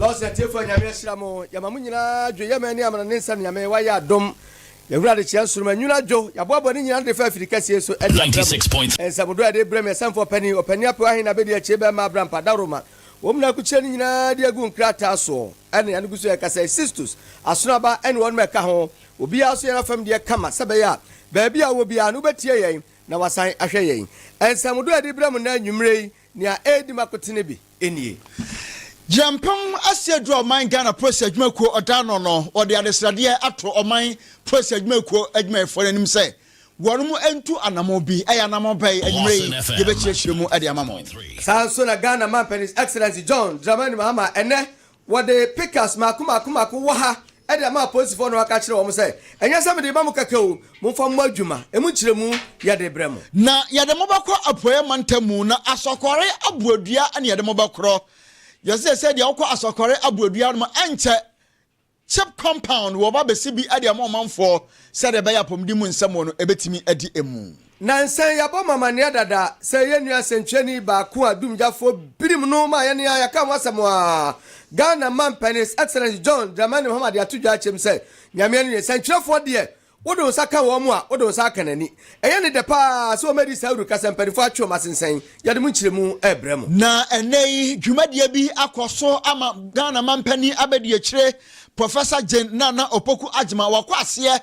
Lɔs atiefo a Nyame ahyira mo, yɛma mo nyinaa dwo, yɛ mani amena ne nsa Nyame wayɛ adom, yɛhunu adekyea nsoroma nwunu adwo, yɛaboaboa ne nyinaa ano defa afiri kɛseɛ so de abrɛ mo, nsɛm dodɔ a yɛde brɛ mo, yɛsɛmfoɔ panin, ɔpanin apɛw ahe na abɛdi akyire bɛmma abrampa dawroma, wɔn nyinaa akukyire no nyinaa de agu nkrataa soɔ, ɛne ano gu so yɛka sɛ Sistus, Asonoaba ɛne wɔnom a ɛka ho, obiara nso yɛn afam deɛ kama, sɛ ɛbɛyɛ a baabi a wowɔ biara no wobɛtie yɛn na wasan ahwɛ yɛn, nsɛm dodɔ a yɛde brɛ mo nnɛ anwumerɛ yi Nea ɛredi ma kwete no bi nie. Gyina mpem asia du a ɔman Ghana Polisi Adwuma Kuo ɔda ano no, wɔde adesradeɛ ato ɔman Polisi Adwuma Kuo adwumayɛfoɔ no anim sɛ wɔnom ntu anamɔn bi. Ɛyɛ anamɔn bɛn? Anwummerɛ yi yɛbɛkyerɛkyerɛ mu de ama mo. Saa ara nso na Ghana Mampanin His Excellency John Dramani Mahama ɛnnɛ Wɔde picas mmaako mmaako mmaako wɔ ha de ama apolisifoɔ na wɔaka akyerɛ wɔn sɛ, Ɛnyɛ sɛ mede rema mo kɛkɛ o, momfa mmɔ adwuma. Emu nkyerɛmu yɛde rebrɛ mo. Na yɛde mo bɛkɔ Apueeɛ mantamu, na Asɔkɔre Aboadua na yɛde mo bɛkorɔ. Yɛse sɛ sɛdeɛ wokɔ Asɔkɔre Aboadua no mu ɛnkyɛ, chip compound, wɔba bɛsi bi de ama ɔmanfoɔ sɛdeɛ ɛbɛyɛ apɔmuden mu nsɛm wɔ no ɛbɛtumi adi mu. Nansa yi yɛabɔ mo amanneɛ dada sɛ yɛn nua sɛnkyerɛni baako a dumgyafoɔ birim no maa yɛn a yɛaka ho asɛm a Ghana manpɛn His Excellency John Dramani Mahama de ato dwa akyɛm sɛ Nyame ani nnye sɛnkyerɛfoɔ deɛ wode wo nsa ka wɔn a wode wo nsa aka n'ani. Ɛyɛ ne dɛ pa ara sɛ wɔadi saa awurukasa yi mpanimfoɔ atwe wɔn asensɛn. Yɛde mo nkyerɛmu rebrɛ mo. Na ɛnnɛ yi dwumadie bi akɔ so ama Ghana manpanin abadiakyire Professor Jane Nana Opoku Agyemang wakɔ aseɛ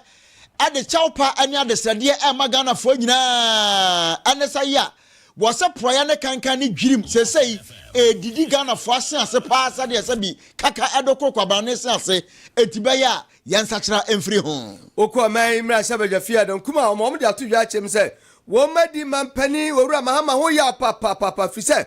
de kyɛwpa ne adesrɛdeɛ rema Ghanafoɔ nyinaa ne sa yi a wɔsɛ porɔeɛ ne kankan ne dwirim seesei ɛredidi Ghanafoɔ ase ase paa sɛdeɛ sɛ bi kaka ɛdo koro kwaban ne se ase enti bɛyɛ a yɛn nsakyera mfiri ho. Wokɔ ɔman yi mmarahyɛ badwa fie a nankum a wɔma wɔn de ato dwa akyerɛ mu sɛ wɔn mma di mampanin Owura Mahama ho yaw papaapa firi sɛ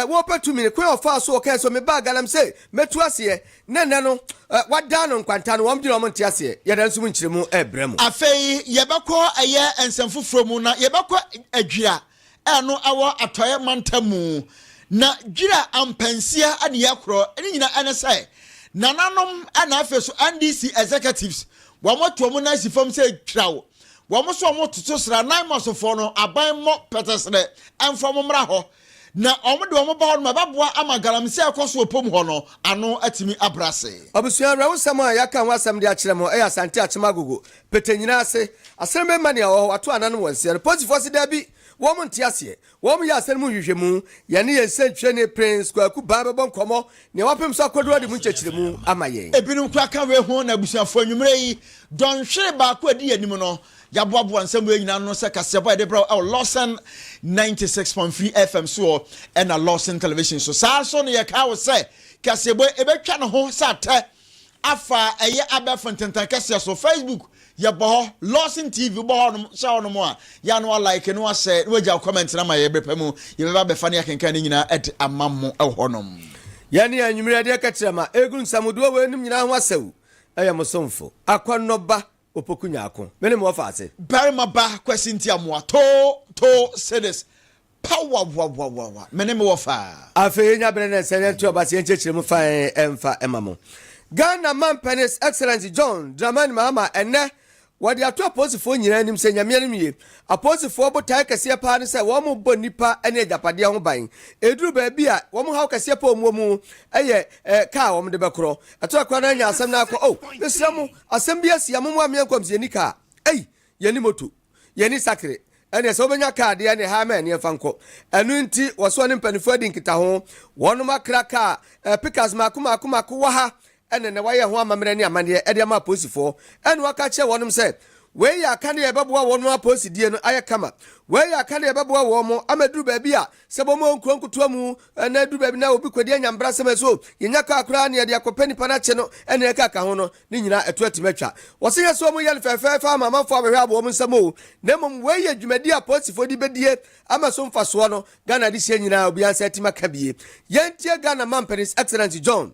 wɔpɛ tumi ne kwan a ɔfaa so ɔkae sɛ ɔmebaa Ghana m sɛ mɛtu aseɛ Ne nnɛ no, wɔadan no nkwanta no, wɔn dwene a wɔnte aseɛ, yɛda nso mu nkyerɛmu rebrɛ mo. Afei yɛbɛkɔ ɛyɛ nsɛm foforɔ mu, na yɛbɛkɔ Adwira a ɛno ɛwɔ atɔeɛ mantam mu. Na Dwira ampansia ne yɛkorɔ, ne nyina ɛne sɛ, nananom na afei so NDC executives, wɔn ato wɔn nan si fam sɛ twiraw, wɔn nso wɔn toto sra, Naimasofoɔ no, aban mmɔ pɛtɛserɛ, ɛmfa wɔn mmra hɔ. Na wɔde wɔn ba hɔ no ma ɛbɛboa ama galamsey a ɛkɔ so wɔ pom hɔ no ano atumi abrase. Abusua awerɛhosɛm a yɛaka ho asɛm de akyerɛ mo yɛ Asante Akyem Agogo, Petenyina ase. Asɛn bɛn ma nea ɔwɔ hɔ wato ananom wɔ nseɛ no? Polisifoɔ se daabi, wɔn nte aseɛ. Wɔn yɛ asɛn no mu nhwehwɛmu. Yɛne yɛn nsɛnkyerɛni Prince Kwaku Baa bɛbɔ nkɔmmɔ nea wɔapem so akɔduru ade mu nkyɛkyerɛmu ama yɛn. Ebinom koraa ka wei ho na abusuafoɔ anwumerɛ yi, dɔnhwere baako a ɛdi yɛn anim no, Yɛaboaboa nsɛm wei nyinaa ano sɛ kaseɛbɔ a yɛde brɛ wo wɔ Lawson 96.3 FM soɔ ɛna Lawson Television so. Saa nso na yɛkaa wo sɛ kaseɛbɔ yi ɛbɛtwa ne ho sɛ atɛ afa ɛyɛ abɛɛfo ntentan kɛseɛ so. Facebook yɛbɔ hɔ, Lawson TV wobɔ hɔ nom, hyɛ hɔ nom a yɛ ano a like no ahyɛ na wagya wo comment na ma yɛ berɛ pa mu yɛbɛba bɛfa ne akenkan ne nyinaa ɛde ama mo ɛwɔ hɔ nom. Yɛne anwummerɛ deɛ kɛkyerɛ ma ɛgu nsɛm dodoɔ wei nom nyinaa ho asɛw ɛyɛ mo somfo akɔnnɔba Opoku nya ako. Me ne mo wɔ faase. Barima ba Kwasi Ntiamoa too too cedis pa wawawawawa me ne mo wɔ faa. Afei yɛnya berɛ na ɛsɛ yɛnto aba sɛ yɛnkyerɛkyerɛ mu fann mfa ma mo. Ghana Mampɛn His Excellency John Dramani Mahama ɛnnɛ wɔde ato apolisifoɔ nyinaa anim sɛ Nyame anim nie, apolisifoɔ botaeɛ kɛseɛ paa ne sɛ wɔbɔ nnipa ne agyapadeɛ ho ban. Ɛduru baabi a, wɔn haw kɛseɛ paa a wɔwɔ mu yɛ car a wɔde bɛkorɔ. Ɛtɔ da koraa na anya asɛm no ara kɔ. Oh, mesrɛ mo. Asɛm bi asi a mommoa mmea nkɔm sɛ yɛnni kaa, ei, yɛnni moto, yɛnni sakre, ɛnneɛ sɛ wobɛnya kaa deɛ ɛnneɛ haa ma ɛnneɛ mfa nkɔ. Ɛno nti wɔso ɔne mpaninfoɔ adi nkitaho. Wɔnom akra kaa eh, pickups mmaako mmaako mmaako wɔ ha ɛna ɛnɛ wɔayɛ ho amammerɛ ne amanneɛ ɛde ama apolisifoɔ ɛna wɔaka akyerɛ wɔnom sɛ wei yɛ akanea a ɛbɛboa wɔnom apolisidie no ayɛ kama. Wei yɛ akanea a ɛbɛboa wɔnom ama aduru baabi a Sɛ bɔ mu wɔ nkuro nkutoa mu na ɛduru baabi na obi kɔdi anya mbrasɛm a ɛsɛ o, yɛnya kaa koraa na yɛde akɔpɛ nipa no akye no ne yɛn kaa ka ho no, ne nyinaa ɛto atumi atwa. Wɔse nyɛ sɛ wɔyɛ no fɛɛfɛɛfɛ ama amanfoɔ abɛhwɛ abɔ wɔn nsam o, na mmom wei yɛ dwumadie a apolisifoɔ de bɛdie ama so mfasoɔ no Ghana adesua nyinaa obiara nsa atim aka bi. Yɛntie Ghana Mampanin's Excellence John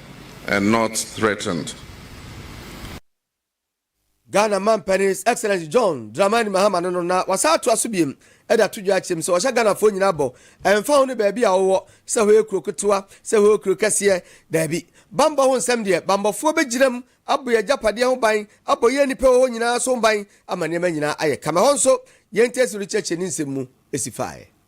and not threatened. Ghana Mampanin His Excellency John Dramani Mahama no no na wasan atoa so biom de ato dwa akyerɛ mu sɛ ɔhyɛ Ghanafoɔ nyinaa bɔ, ɛmfa ho ne baabi a wowɔ, sɛ hɔ yɛ kuro ketewa, sɛ hɔ yɛ kuro kɛseɛ, daabi. Bammɔ ho nsɛm deɛ, bammɔfoɔ bɛgyina mu abɔ yɛn agyapadeɛ ho ban, abɔ yɛn nnipa a ɛwɔ hɔ nyinaa nso ho ban ama nneɛma nyinaa ayɛ kama. Ɛhɔ nso, yɛn nteaseɛm no kyerɛkyerɛ ne nsɛm mu si faeɛ.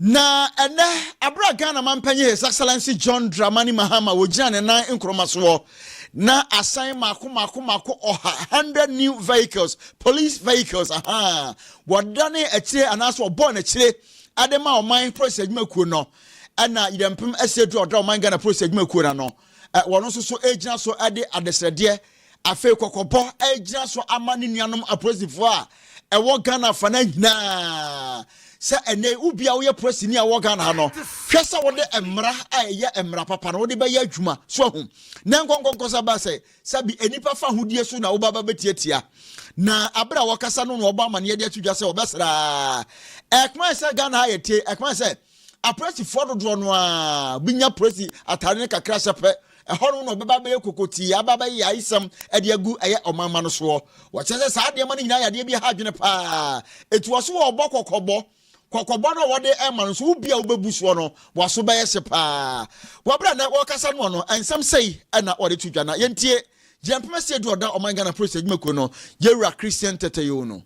Na ɛnnɛ, bere a Ghana Mampanyin His Excellency John Dramani Mahama wogyina ne nan nkoroma soɔ na asan mako mako mako ɔha, hundred new vehicles, police vehicles, ahaa, wɔdane akyire anaasɛ wɔbɔɔ n'akyire ade ma ɔman polisi adwumakuo no, ɛna Yidampem Asiedura ɔda ɔman Ghana polisi adwumakuo no ano, wɔn nso so gyina so de adesrɛdeɛ Afei kɔkɔbɔ agyina so ama ne nuanom apolisifoɔ a ɛwɔ Ghana afa no nyinaa sɛ ɛnɛ yi wobia woyɛ polisini a wɔ Ghana ha no hwɛ sɛ wode mmara a ɛyɛ mmara papa no wode bɛyɛ adwuma so ahu na nkɔnkɔnkɔ sɛ bɛa sɛ sɛbi nnipa fa hodie so na wobaba bɛtiatia na abere a wɔkasa no na wɔbɔ amanneɛ de ato dwa sɛ wɔbɛsraa ɛkoma sɛ Ghana ha yɛtie ɛkoma sɛ Apolisifoɔ dodoɔ no ara bi nya polisi atare no kakra hyɛ pɛ. Ɛhɔ no na ɔbɛba abɛyɛ kokotii aba abɛyɛ yaayisɛm de agu ɛyɛ ɔmanma no soɔ. Wɔkyerɛ sɛ saa nneɛma no nyinaa yɛ adeɛ bi ɛha adwene paa. Eti wɔ so wɔ ɔbɔ kɔkɔbɔ. Kɔkɔbɔ no a wɔde ɛma no nso wo bi a wobɛbu soɔ no waso bɛyɛ hye paa. Wɔ berɛ a na wɔkasa noɔ no nsɛm sei ɛna wɔde to dwa na yɛntie gyina mpɛmɛsɛ edu ɔda ɔman Ghana polisi adwumakuo no yɛwura Christian Tɛtɛyoo no.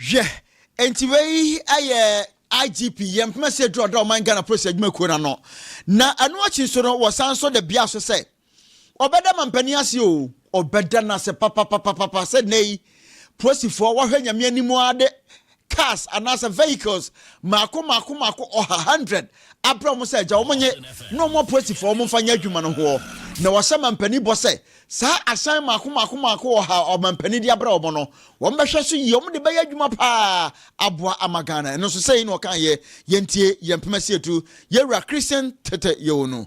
Hwɛ, enti wei yɛ IGP yɛn mpem ase aduru ɔdɔ ɔman Ghana polisi adwuma kuo no ano. Na ɛno akyi nso no, wɔsan nso da bia so sɛ ɔbɛda mampanin ase o, ɔbɛda no ase papapapapa sɛ nnɛ yi polisifoɔ wɔhwɛ nyame anim ara de cars anaasɛ vehicles mmaako mmaako mmaako ɔha hundred abrɛ wɔn sɛ agya wɔn nye na wɔn apolisifoɔ wɔn mfa nyɛ adwuma no hoɔ na wɔhyɛ mampanin bɔ sɛ saa ahyɛn mmaako mmaako mmaako ɔha a ɔmampanin de abrɛ wɔn no wɔn bɛhwɛ so yie wɔn de bɛyɛ adwuma paa aboa ama Ghana ɛno nso sɛ yi na ɔka yɛ yɛntie yɛn mpem asietu yɛwura Christian tete yɛwɔ no.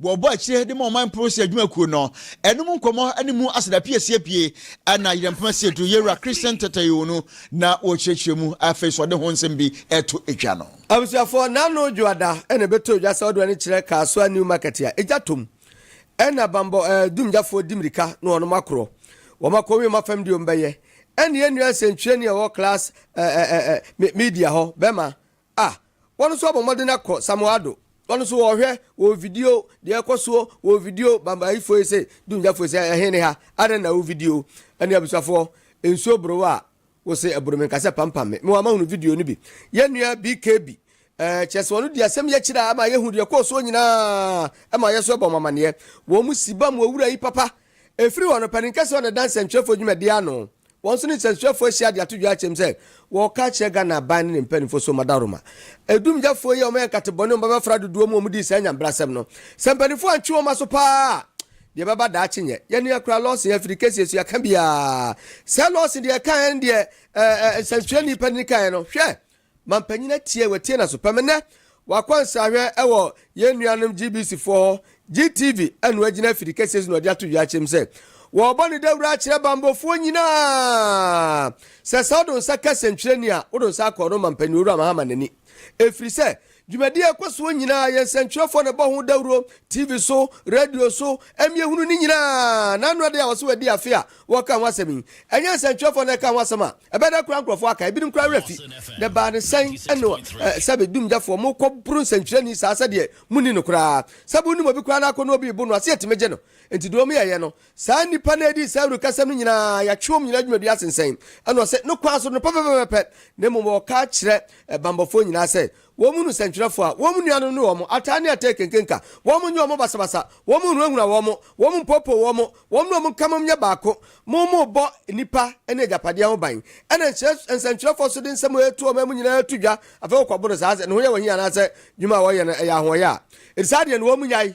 Wɔbɔ akyire de ma ɔman Prosi adwuma kuo no. Ɛno mu nkɔmmɔ ne mu aseda pii asie pue na Yerɛm Poma si aduru Yewura Christian Tɛtɛyoo no na wɔrekyerɛkyerɛ mu. Afei so ɔde ho nsɛm bi reto dwa no. Abusuafoɔ, Nano Dwoada na ɛbɛtɔ dwa sɛ ɔde ɔne kyerɛ Kasoa New Market a egya tɔ mu. Ɛna bambɔ eh, dumgyafoɔ di mmirika na wɔnom akorɔ. Wɔn akɔ wiem afam deɛ wɔn bɛyɛ. Ɛne yɛn nua nsɛntwerɛni a ɔwɔ Class eh, eh, eh, eh, me- Media hɔ bɛma A. Wɔn nso abɔ mmɔden akɔ Samoado. Wɔn nso wɔɔhwɛ wɔɔ video deɛ ɛkɔ soɔ wɔɔ video Bambahifoɔ yi se Dungyafo yi se ɛhe ne ha? Adɛn na wo video? Ɛne abusuafoɔ nsuo boro wo a wo se ɛboro me nka sɛ pampam me. Me wɔ mahunu video no bi. Yɛn nua BKB ɛɛ kyerɛ sɛ ɔno di asɛm yi akyire a ɛma yɛhu deɛ ɛkɔɔ soɔ nyinaa ɛma yɛ nso ɛbɔ mo amaneɛ. Wɔn mu si ba mo owura yi papa ɛfiri hɔ no panin kɛseɛ ɔne dansɛntwerɛfoɔ dwumadie ano. Wɔn so ne nsɛmtwerɛfoɔ ahyia de ato dwa akyɛm sɛ wɔreka akyerɛ Ghana aban ne ne mpanimfoɔ so Madaroma adumgyafoɔ yi a wɔyɛ nkate bɔne wɔn bɛbɛfra dodoɔ mu a wɔdii saa nyanbrasɛm no. Sɛ mpanimfoɔ antwe wɔn aso pa ara a, deɛ ɛbɛba daakye nyɛ yɛn nea koraa Lawson afiri kɛseɛ so yɛaka biara. Sɛ Lawson deɛ ɛkaeɛ no deɛ ɛɛ ɛɛ nsɛmtwerɛni panin kaeɛ no, hwɛ! Mampanyin atie, watie n'aso pɛ me nnɛ. Wakɔ nsrahwɛ wɔ yɛn nuanom GBC foɔ hɔ, GTV ɛna wagyina afiri kɛseɛ so na ɔde ato dwa akyerɛ mu sɛ wɔrebɔ ne dawuro akyerɛ bambofoɔ nyinaa sɛ sɛ wode wo nsa ka sɛntwerɛni a wode wo nsa akɔ no Mampanyin Owura Mahama n'ani. Ɛfiri sɛ Dwumadi a ɛkɔ soɔ nyinaa, yɛn nsɛntwerɛfoɔ na ɛbɔ ho dawuro, TV so, radio so, ɛmmiehunu ne nyinaa. Na ano adeɛ a wɔse wɔadi afe a wɔreka ho asɛm yi, ɛnyɛ nsɛntwerɛfoɔ na ɛka ho asɛm a, ɛbɛda koraa nkorɔfoɔ aka, ebinom koraa werɛ afi. Na ɛbaa no sɛn? Ɛnno eh, sɛbe dumgyafoɔ, mokɔ boro nsɛntwerɛni saa sɛdeɛ monni no koraa. Sɛbe wonim obi koraa na akɔnnɔ obi rebo no, ase atumi gye no. Enti deɛ wɔyɛeɛ no, Saa nnipa no a ɛdii saa awurukasɛm no nyinaa, yɛatwe wɔn nyinaa dwumadi asensɛn. Ɛna ɔse, No kwan so no pɛpɛpɛpɛpɛ, na mmom wɔka kyerɛ banbɔfoɔ nyinaa sɛ, wɔmmu no sɛnkyerɛfoɔ a, wɔmmu nuanom no wɔn ataa ne ataa ɛkenkenka, wɔnyɛ wɔn basabasa, wɔnhunahuna wɔn, wɔmpoopoo wɔn, wɔn ne wɔn nka mmom nyɛ baako. Mommobɔ nnipa ne agyapadeɛ ho ban. Ɛna nkyerɛ nsɛnkyerɛfoɔ so de nsɛm a ɛto wɔn amu nyinaa to dwa, afei wɔkɔboro saa sɛ ne ho yɛ wɔn he anaasɛ dwuma a wɔyɛ no ɛyɛ ahoɔyɛ a, enti saa deɛ no wɔmmu nyae.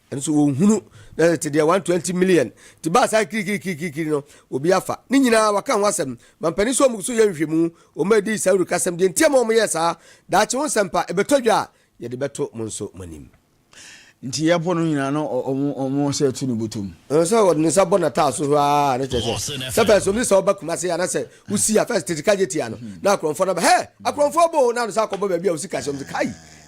Nso wɔnhunu, na tete deɛ one twenty million ti baa saa kirikirikirikiri no, obi afa. Ne nyinaa wɔaka ho asɛm. Mampanin sɛ wɔn so yɛ nhwehwɛmu, wɔn a ɛdi saa awurukasɛm, deɛ nti ama wɔyɛɛ saa, daakye ho nsɛmpa, ɛbɛtɔ dwa a, yɛde bɛto mo nso mo anim. Nti yɛpo no nyinaa na wɔn wɔn sɛ to no bɔtɔ mu. Sɛ ɔde ne nsa bɔ n'ataaso hwaa a, na kyerɛ sɛ, sɛ pɛɛ sɛ wɔn sɛ ɔba Kumasi anaa sɛ Wosi a first tete ka gye tia no na akorɔmfoɔ no aba hɛ akorɔmfoɔ bɔ o na anosa akɔbɔ baabi a wosi ka sɛm sɛ kai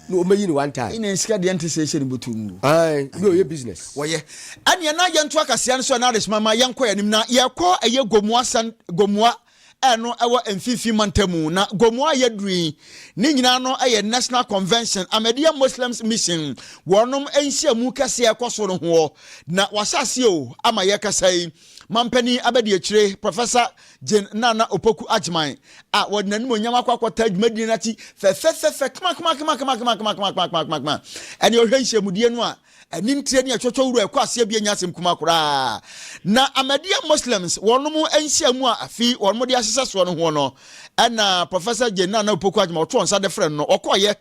na wɔmɛyi no one time. Ina sika deɛ nte sɛ ɛhyɛ ne bɔtɔ mu o. Ae na ɔyɛ business. Wɔyɛ. Ɛneɛ na yɛnto akasia no so Anaris mama yɛnkɔ yɛn anim na yɛkɔ ɛyɛ Gomoa sɛn Gomoa ɛno ɛwɔ mfimfini mantamu na Gomoa yɛduru yi ne nyinaa no ɛyɛ National Convention Ahmadiyya Muslims Mission wɔnom nhyiamu kɛseɛ ɛkɔ so no hoɔ na wahyɛ aseɛ o ama yɛkasa yi Mampanin abadiakyire Professor Jane Nana Opoku Agyman a wɔde n'animuonyam akɔ akɔtaa dwumadie no ati fɛfɛfɛfɛ kmakmakma ɛne ɔhwɛ nhyiamudie no a anim tire ne ɛtwɔtwɔ wura ɛkɔ aseɛ bi anya asɛm kuma koraa na Ahmadiyya Muslims wɔnom nhyiamu a afi wɔnom de ahyehyɛ soɔ no ho no ɛna Professor Jane Nana Opoku Agyman ɔtoo nsa de frɛ no no ɔkɔɔyɛ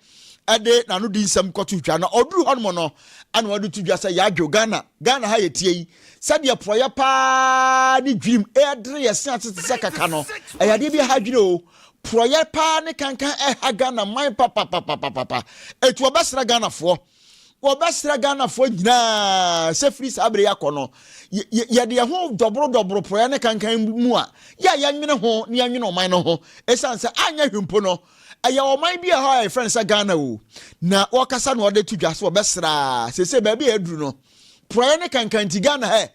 ɛde n'ano di nsɛm kɔto dwa na ɔduru hɔnom no ɛna ɔde to dwa sɛ yɛadwo ghana ghana ha yɛtie yi sɛdeɛ porɔyɛ paa ne dwirim ɛdere yɛ se ase te sɛ kaka no ɛyɛ adeɛ bi aha dwene o porɔyɛ paa ne kankan ɛha ghana man papapapapapa ɛtu ɔbɛsra ghanafoɔ wɔbɛsra ghanafoɔ nyinaa sɛ firi saa bere yɛakɔ no yɛde yɛ ho dɔborodɔboro porɔeɛ ne kankan mu a yɛ a yɛnwene ho ne yɛnwene ɔman no ho ɛsiane sɛ anyɛ hwempo no Ɛyɛ ɔman bi a ɛhɔ a yɛfrɛ no sɛ Ghana o, na wɔkasa na wɔde to dwa so ɔbɛsraa sese baabi a aduru no porɔeɛ ne kankan nti Ghana hɛ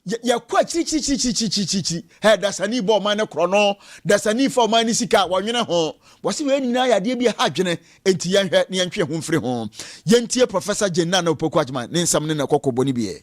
yɛkɔ akyirikyirikyirikyirikyirikyiri hɛ dasani bɔ ɔman no korɔ no dasani fa ɔman no sika a wɔnwene ho wɔse wei nyinaa yɛ adeɛ bi ɛha adwene enti yɛnhwɛ ne yɛntwe ho mfiri ho yɛntie Professor Jane Nana Opoku Agyman ne nsɛm ne na ɛkɔkɔbɔ no biɛ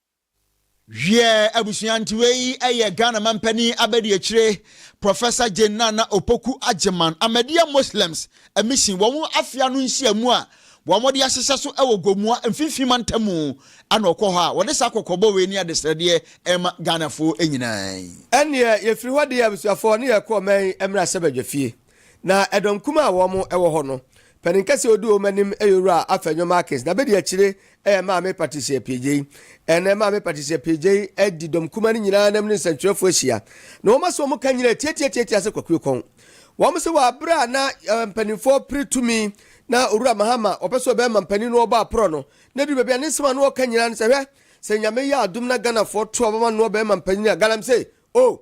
Wiɛ, abusua ntiwei yi yɛ Ghana Mampanin Abadiakyire Professor Jane Nana Opoku Agyeman Ahmadiyya Muslims Mission wɔn afe ano nhyiamu a wɔde ahyehyɛ so wɔ Gomoa Mfinfini Mantam mu na ɔkɔ hɔ a wɔde saa kɔkɔbɔ wei ne adesrɛdeɛ rema Ghanafoɔ nyinaa yi. Ɛnneɛ, yɛfiri hɔ de yɛn abusuafoɔ ne yɛn kɔɔ Main mmarahyɛbadwafie. Na ɛdɔm kum a wɔn wɔ hɔ no, panin kɛseɛ odi wɔn anim yɛ owura afɛ nyɔma akins. Na bedi akyire yɛ maame Patricia Piejei. Ɛnɛ maame Patricia Piejei di dɔm kuma no nyinaa nam ne nsɛntwerɛfoɔ ahyia. Na wɔn ase wɔn ka nyinaa tiatiatiatia sɛ kwakuo kɔn. Wɔn se wɔ abere a na mpaninfoɔ pere tumi na owura Mahama wɔpɛ sɛ ɔbɛma mpanin no wɔbɔ aporɔ no, na ɛduru baabi a ne nsɛm a na wɔka nyinaa ne sɛ hwɛ sɛ Nyame yɛ adom na Ghanafoɔ to abama no wɔbɛma mpanin a galamsey oh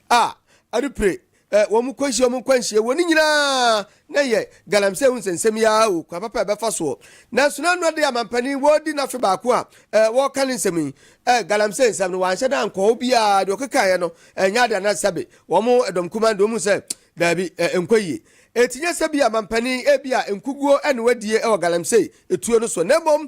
a ade pire ɛ, wɔn kɔ nhyia wɔn nkɔ nhyia wɔ ne nyinaa na yɛ galamsey ho nsɛnsɛm yi ara o, kwan papa a ɛbɛfa soɔ. Nanso n'ano adeɛ amampanin wɔredi n'afe baako a ɛ, wɔreka ne nsɛm yi ɛ, galamsey nsɛm no wanhyɛ da ankɔ hɔ biara, deɛ ɔkekaeɛ no ɛnyɛ adeɛ anaa sɛbe wɔn dɔm kumaa no deɛ wɔhunu sɛ daabi ɛ, ɛnkɔ yie. Enti nyɛ sɛ bi amampanin ebia nkuguo na wadie wɔ galamsey tuo no soɔ na mmom,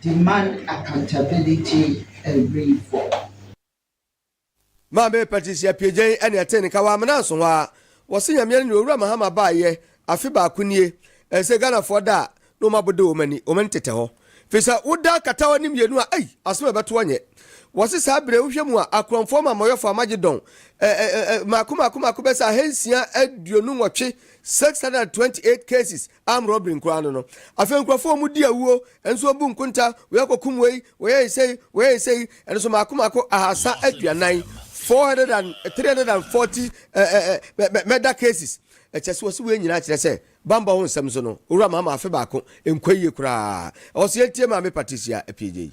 demand accountability and reform. Maame Patricia Piegyen ɛna ɛtee nka wɔ amena nso hɔ ara. Wɔse Nyamea no ne Owura Mahama baayɛ afe baako nie. Ɛnsɛ Ghanafoɔ da a na wɔn abode wɔn ani, wɔn ani tetɛ hɔ. Fisɛ woda katawa no mmienu a ei! Asem a ɛbɛtoɔ nyɛ. Wɔse saa bere wohwɛ mu a Akorɔmfoɔ Amamɔyɔfoɔ Amagedɔn ɛ ɛ ɛ mmaako mmaako mmaako bɛyɛ sɛ ahansia aduonu nwɔtwe, 628 cases, Arm robbery nkoaa no no. Afei nkurɔfoɔ ɔmo di awuo, ɛnso ɔbu nkonta, wei akɔkum wei, wɔyɛɛ sei, wɔyɛɛ sei, ɛnso maako maako ahaasa aduanan, 400 and 340 eh, eh, eh, murder cases. Ɛkyɛ sɛ wɔsi wei nyinaa kyerɛ sɛ bambɔ ho nsɛm so no, owura maama afe baako, nkɔ yie koraa. Ɛwɔ sɛ yɛntie maame Patricia Apiegye yi.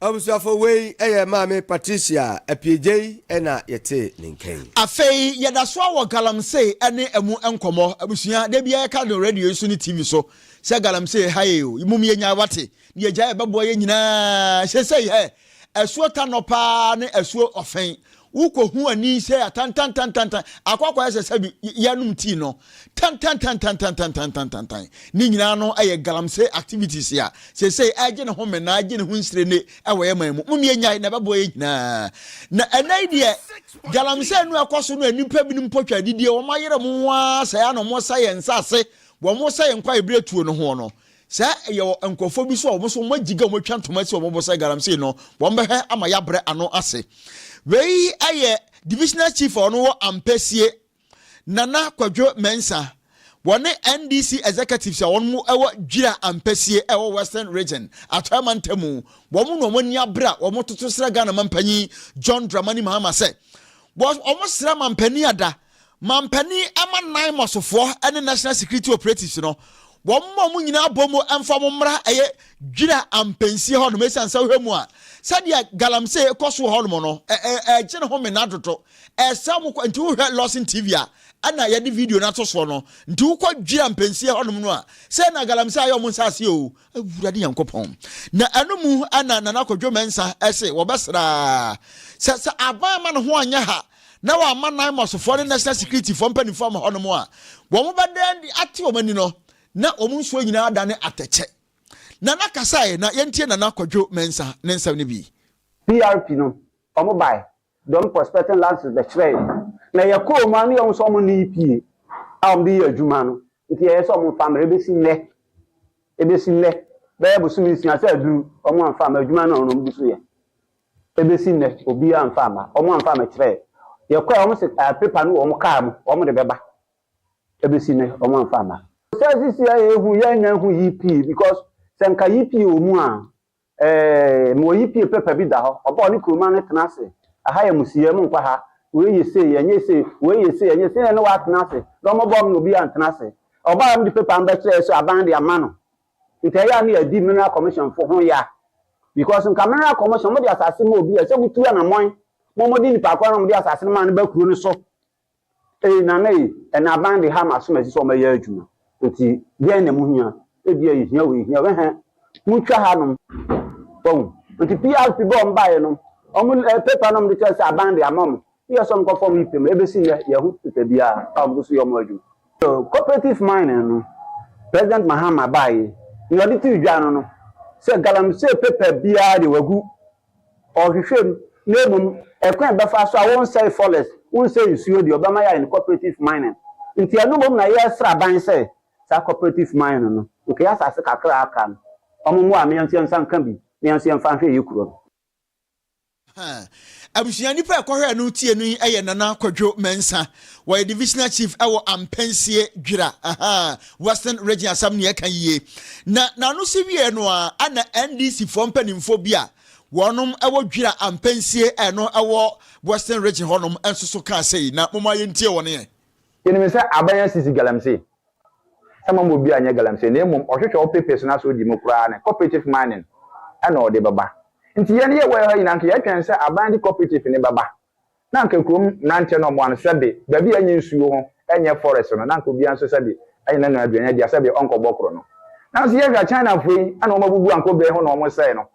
Abusuafo, wei yɛ Maame Patricia Apiegyei na yɛtee ne nka yi. Afei yɛda so ara wɔ Galamsey ne ɛmu nkɔmmɔ. Abusua, da biara yɛka no radio yi so ne TV so sɛ Galamsey ha ee o, mmom yɛnyae wate, ne yɛagyae ɛbɛboa yɛn nyinaa. Seesei ɛ? Asuo Tanɔ paa ne asuo Ɔfɛn, Wokɔ hu ani sɛ ya tantantantantan akɔ akɔyɛ sɛ sɛ bi yanom tii no tantantan ne nyinaa no ɛyɛ galamsey activities a sesei ɛgye ne ho menaa ɛgye ne ho nsire ne ɛwɔ yɛ man mu mom yɛ nyae na ɛbɛboa yɛ nyinaa na ɛnɛ yi deɛ galamsey no ɛkɔ so no nnipa binom mpo twa adidie wɔn ayere mo ho ara sɛ ya na wɔn sɛ yɛ nsase wɔn sɛ yɛ nkwa yɛ berɛ tuo no ho no Sɛ yɛwɔ nkorɔfoɔ bi nso a wɔn nso wɔn agyigya a wɔn atwa ntoma asi wɔn bo sɛ galamsey no, wɔn bɛhwɛ ama yɛabrɛ ano ase. Wei yɛ Divisional Chief a ɔno wɔ Ampasie, Nana Kwadwo Mensah, wɔne NDC Executives a wɔn wɔ Dwira Ampasie a ɛwɔ Western Region, Atɔeɛ Mantamu, wɔn na wɔn ani abrɛ a wɔtoto srɛ Ghana Mampanyin John Dramani Mahama sɛ wɔn srɛ Mampanin Adah Mampanin ma nan mɔsofoɔ ne National Security Operatives no, wɔn ma wɔn nyinaa bɔ mu mfa wɔn mmra ɛyɛ Dwira ampansie hɔnom ɛsiane sɛ wohwɛ mu a sɛdeɛ galamsey kɔ so wɔ hɔnom no ɛgye ne ho mena dodo ɛsɛ wɔn kɔ nti wohwɛ Lawson TV a ɛna yɛde video no ato soɔ no nti wokɔ Dwira ampansie hɔnom no a sɛ na galamsey ayɛ wɔn nsaase o awurade nyankopɔn na ɛno mu ɛna Nana Kwadwo Mensah ɛse wɔbɛsraa sɛ sɛ aban ma ne ho anyɛ ha na wɔama Naimosfoɔ ne National Securityfoɔ mpanimfoɔ ama hɔnom a wɔbɛda adi ate wɔn ani no, na wɔn nsuo nyinaa adane atɛkyɛ. Nana kasae na yɛntie Nana Kwadwo Mensah ne nsɛm no bi. PRP no ɔmo bae de ɔmo prospecting lances bɛkyerɛ yɛn na yɛkɔɔ ɔmo a ne yɛhu sɛ ɔmo nne EPA a ɔmo de yɛ adwuma no nti ɛyɛ sɛ ɔmo mfa mmerɛ ɛbɛsi nnɛ ɛbɛsi nnɛ bɛyɛ bosome nsia sɛ aduru ɔmo amfa amma adwuma no a ɔno ɔmo gu so yɛ Ebesi nnɛ obiara amfa amma, wɔamfa ammɛkyerɛɛ. Yɛkɔe a wɔse paper no wɔ wɔn car mu, wɔde bɛba. Ebesi nnɛ wɔamfa amma. Sɛ sisi a yɛhu yi a nnya nhu yi pii because sɛ nka yi pii wɔ mu a, eh, mewɔ yi pii paper bi da hɔ, ɔba a ɔne kuruma no tena ase, aha yɛ mo siyɛ, monkɔ ha, wei yɛ sei, ɛnyɛ sei, wei yɛ sei, ɛnyɛ sei, ɛne ne watena ase, na wɔbɔɔ me na obiara antena ase. Ɔbaa a mede paper no bɛkyerɛɛ sɛ aban de ama no, Nka ɛyɛ a na yɛadi mineral commissionfo ho ya because nka mineral commission wɔde asase ma obi a ɛsɛ motu anamɔn ma wɔde nipa koro na wɔde asase no maa no ba kuro no so. Ei Nana ei, ɛnna aban de ha ma asomasi sɛ wɔbɛyɛ adwuma. Enti deɛn na mohia? Ebia yɛhia wei, yɛhia wei. Ɛhɛn, montwa hanom. Wahu? Enti PRP bɔ wɔn baeɛ no, wɔn paper no a wɔde kyerɛ sɛ aban de ama wɔn, Yɛ sɔm kɔ fɔm yi pɛ mu, ɛbɛsi nnɛ yɛ ho teta biara a ɔmo so yɛ ɔmo adwuma. So cooperative mining no President Mahama baa yi nea ɔde too dwa no no sɛ galamsey paper biara deɛ wagu ɔhwehwɛ mu na mmom ɛkwan a ɛbɛfa so a wonsɛe forest wonsɛe nsuo deɛ ɔbɛma yɛayɛ no cooperative mining nti ɛno mmom na yɛ sra ban sɛ saa cooperative mining no nka yɛ asase kakra a aka no ɔmo mmoa me nso yɛnsa nka bi na yɛnso yɛnfa nhwɛ yɛ kuro no. Abusua nnipa a ɛkɔhwɛɛ no tie no yi yɛ Nana Kwadwo Mensah. Wɔyɛ Divisional Chief wɔ Ampensie, Dwira, Western Region. Asɛm no yɛka yie. Na n'ano si wieɛ no ara na NDC foɔ mpanimfoɔ bi a wɔn wɔ Dwira, Ampensie ɛno wɔ Western Region hɔnom nso so kaa sei. Na momma yɛntie wɔn yɛ. Yɛnim sɛ aban asisi galamsey ɛmma obi a nyɛ galamsey na mmom ɔhwehwɛ wo papers no asɛ odi mu koraa ne cooperative mining ɛna ɔde bɛba nti yɛn yɛ wɔ ha nyinaa nka yɛtwɛn sɛ aban de cooperative no bɛba na anka kurom mmeranteɛ no ɔmo ano sɛbe baabi a ɛnyɛ nsuo ho ɛnyɛ forest no na anka obiara nso sɛbe ɛnyɛ n'ano aduane adi a sɛbe ɔnkɔbɔ koro no nanso yɛhwɛ a China foɔ yi ɛna ɔmo abubu anka obey ho na ɔmo sɛe no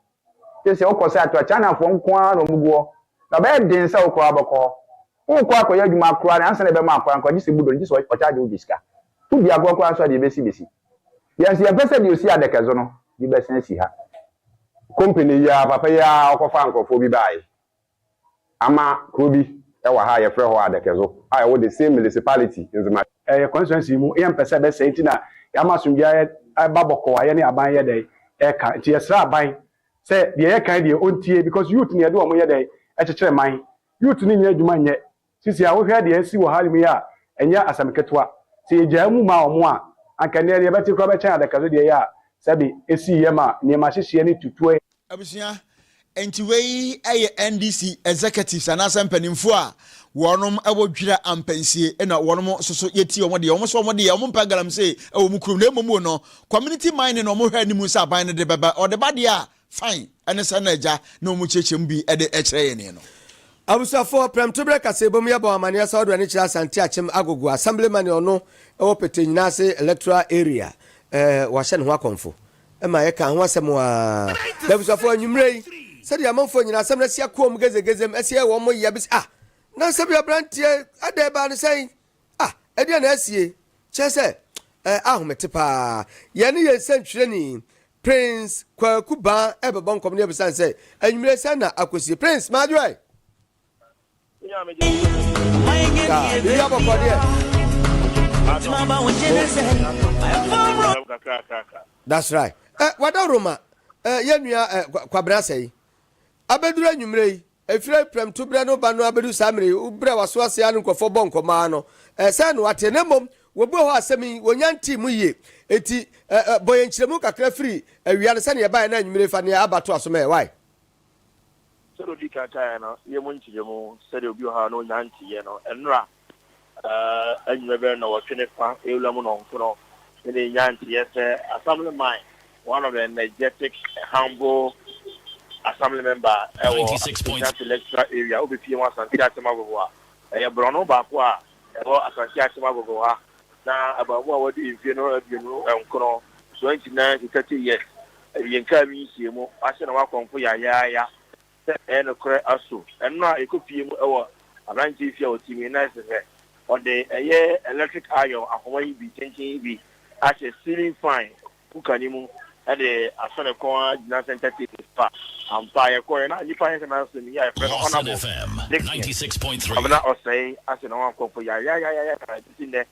Gye sɛ wokɔ sɛ atoa Chinafoɔ nko ara na wɔgu hɔ, na ɔbɛyɛ den sɛ wo koraa wobɛkɔ hɔ. Worekɔ akɔyɛ adwuma koraa no, ansa na ɛbɛma akɔ ankɔ a, gye sɛ budo no, gye sɛ wɔkyagye wo gye sika. Wo di agorɔ koraa nso a, deɛ ɛbɛsi bɛsi. Yɛn nso, yɛmpɛ sɛ deɛ ɔsi Adɛkɛso no bi bɛsan asi ha. Company yi ara, papa yi ara, ɔkɔfaa nkurɔfoɔ bi baeɛ. Ama kuro bi wɔ ha a yɛfrɛ hɔ Adɛkɛzo a ɛwɔ the same milisipaliti, Nzema. Ɛyɛ kɔnsituansi mu, yɛ mpɛ sɛ ɛbɛsɛe nti na yɛama asomdwie ayɛ ɛba bɔkɔɔ a yɛne aban yɛ dɛn ɛka nti yɛsrɛ aban sɛ deɛ yɛka yi deɛ ɔntie because youth na yɛde wɔn yɛ dɛn ɛkyekyere man youth no nyɛ adwuma nyɛ Sisi a wohwɛ deɛ asi wɔ Harlem yi a, ɛnyɛ asɛm ketewa. Sɛ yɛgyaa mu maa wɔn a, anka nnɛ deɛ yɛbɛte koraa bɛkyɛn adaka so deɛ ɛyɛ a sɛbe ɛsiiɛ ma nneɛma hyehyeɛ ne tutuɛ. Abusua, Enti wei yɛ NDC executives anaasɛ mpaninfoɔ a wɔnom wɔ dwira ampansie na wɔnom nso so yɛti wɔn deɛ wɔn nso wɔn deɛ wɔn mpɛ galamsee wɔ wɔn kurom na mmom wɔ no community mining na wɔn hwɛ anim sɛ aban no de bɛba ɔde ba deɛ a Fan ne sɛn na agya ne wɔn kyerɛkyerɛ mu bi de kyerɛ yɛn no? Abusuafoɔ, prɛmtoberɛ kaseɛbɔ mu yɛbɔɔ amaneɛ sɛ wɔde w'ani kyerɛ Asante Akyem Agogo, Assembly man a ɔno wɔ Pete Nyinase electoral area, wɔahyɛ ne ho akɔmfo ma yɛkaa ho asɛm aa. Na abusuafoɔ, anwummerɛ yi, sɛdeɛ amanfoɔ nyinaa asɛm no asi akoa mu gezegezem, asi ayɛ wɔn yea bi sɛ, Ah! Nansa bi aberanteɛ, adɛn baa no sɛn? Ah, ɛdeɛn na asie? Kyerɛ sɛ, ɛɛ ahomete paa. Yɛne yɛn sɛntwerɛni, Prince Kwaku Baa ɛrebɛbɔ nkɔmmɔ no yɛbisa no sɛ, anwummerɛ sɛn na akɔsie? Prince, m'adwoɛ! Daa, biribi abɔkɔ deɛ? That's right. Eh, wadaworo ma eh, yɛn nua eh, Kwabena Asɛe. Abɛduru anwummerɛ yi, Ɛfiri awiprɛmto berɛ no reba no ara bɛdu saa mmerɛ yi, wo berɛ a w'aso ase ara no nkurɔfoɔ bɔ nkɔmmɔ ara no, ɛyɛ sɛ na wɔate, na mmom wɔbuee hɔ asɛm yi, wɔnnya ntee mu yie. Enti ɛ, ɛ, bɔ yɛn nkyerɛmu kakra firi awia no, sɛdeɛ ɛbaeɛ, na anwummere yi fa deɛ aba toa so ma yɛn. Wai? Sɛdeɛ ɔdii kan kaeɛ no, yɛ mu nkyerɛmu sɛdeɛ obi wɔ hɔ a na ɔnnya nteeɛ no nnora. Anwummerɛ bɛyɛ nnɔwɔtwe ne fa, Ewura mu nnɔnkron, na deɛ ɛnya nteɛ sɛ Assemblyman, one of the energetic, humble Assembly member ɛwɔ Ashanti Electoral Area, wobɛpie mu Asante Akyem Agogo a ɛyɛ borɔno baako a ɛwɔ Asante Akyem Agogo ha, na abaamuwa a wadi mfeɛ no aduonu nkron, 29 to 30 years, awienkaa bi nhyiamu, wahyɛ na wakɔmfo yayaaya. Sɛ ɛyɛ nokorɛ aso ɛno a yɛkɔ pie mu wɔ abranteɛ yi fie a ɔte mu yi na ɛsehɛ ɔde ɛyɛ electric iron ahoma yi bi tenten yi bi ahyɛ ceiling fan cooker no mu de asɔ ne kɔn ara gyina center table so a ampa yɛkɔɛ na nipa yɛ sɛ nansem yi a yɛfrɛ no Honourable Dickson Kwabena Ɔsɛe ase na wɔn akɔmfo yayayayaya na ɛbɛsi nnɛ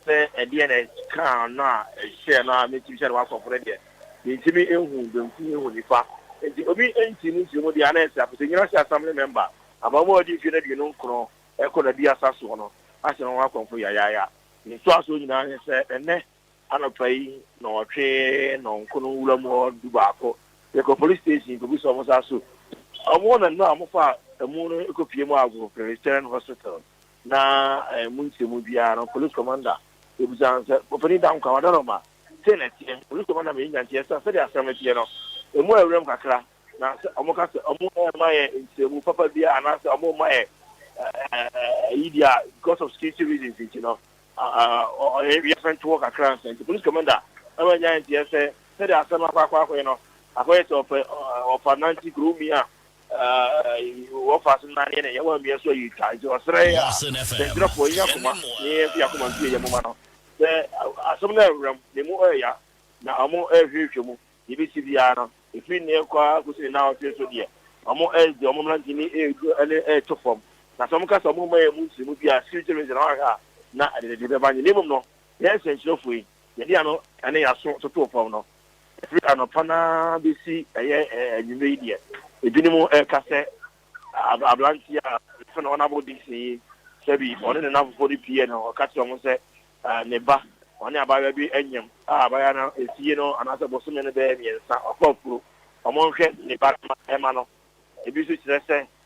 Sɛ ɛdeɛn na ɛkaa no a ɛhyɛɛ no a mentumi hyɛ no w'asɔfo no deɛ, mentumi nhu benkum nhu nifa. Enti obi ntii ne nkyerɛmu deɛ a na ɛsɛ apɛ sɛ Nnyina Ase Assembly mɛmba Abaamua a ɔdi mfeɛ aduonu nkron rekɔ n'aduasa soɔ no ahyɛ ne ho akɔmfo yayaaya. Ne ntoasoɔ nyinaa ne sɛ ɛnnɛ anɔpa yi nnɔnwɔtwe nnɔnko no nwura mu hɔ dubaako yɛkɔ police station kɔgu sɛ wɔn nsa so wɔn nnanu a wɔfaa amu no kɔpie mu ago Presbyterian Hospital. na ɛmu nkyɛmu biara no police commander bɛbisa no sɛ, Ɔpanin Dankwa, wada no ma? Sei na ɛteɛ. Police commander Meyi Nyanti yɛ sɛ, sɛdeɛ asɛm no teɛ no, ɛmu ayɛ wuram kakra, na sɛ wɔka sɛ wɔremma yɛn nkyerɛmu papa biara anaasɛ wɔremma yɛn ayi deɛ a, because of security reasons nti no, yɛfɛnto hɔ kakra ansa. Nti police commander ɛma Nyanti yɛ sɛ, sɛdeɛ asɛm no akɔ akɔ akɔyɛ no, akɔyɛ sɛ ɔpɛ ɔfa nanti kuro mi a, Wɔfaase no n'aneɛ ne yɛn wɔn mmea so ayi twa nti ɔsrɛ yɛ a kyerɛkyerɛfoɔ yɛn yɛn akoma ne yɛn nso yɛn akoma nso yɛ yɛn moma no sɛ asɛm no ɛwura mu ne mu ɛya na ɔmo ɛhwehwɛ mu deɛ ɛbɛsi biara no ɛfiri ne ɛkɔ ara kɔsi ne nan ɔtwe so deɛ ɔmo ɛde ɔmo mmra ntumi ɛduro ɛne ɛto fam na sɛ ɔmo ka sɛ ɔmo mma yɛn mu nsiri mu biara security reason na wahwɛ a na ɛde ne de bɛba nyɛ ne mmom no yɛn sɛnkyerɛfoɔ yi yɛde ano ɛne yɛn aso toto fam no. Ɛfiri anɔpa no ara bɛsi ɛyɛ anwummerɛ yi deɛ, ebinom reka sɛ aberanteɛ a yɛfrɛ no Honourable Dixon yi, sɛbi ɔne ne nnamfofoɔ no pue na ɔka kyerɛ wɔn sɛ ne ba, ɔne abaayewa bi anyam a abaayewa no efie no anaasɛ bosome no bɛyɛ mmiɛnsa, ɔkɔ afuro, wɔnhwɛ ne ba no mma no. Ebi nso kyerɛ sɛ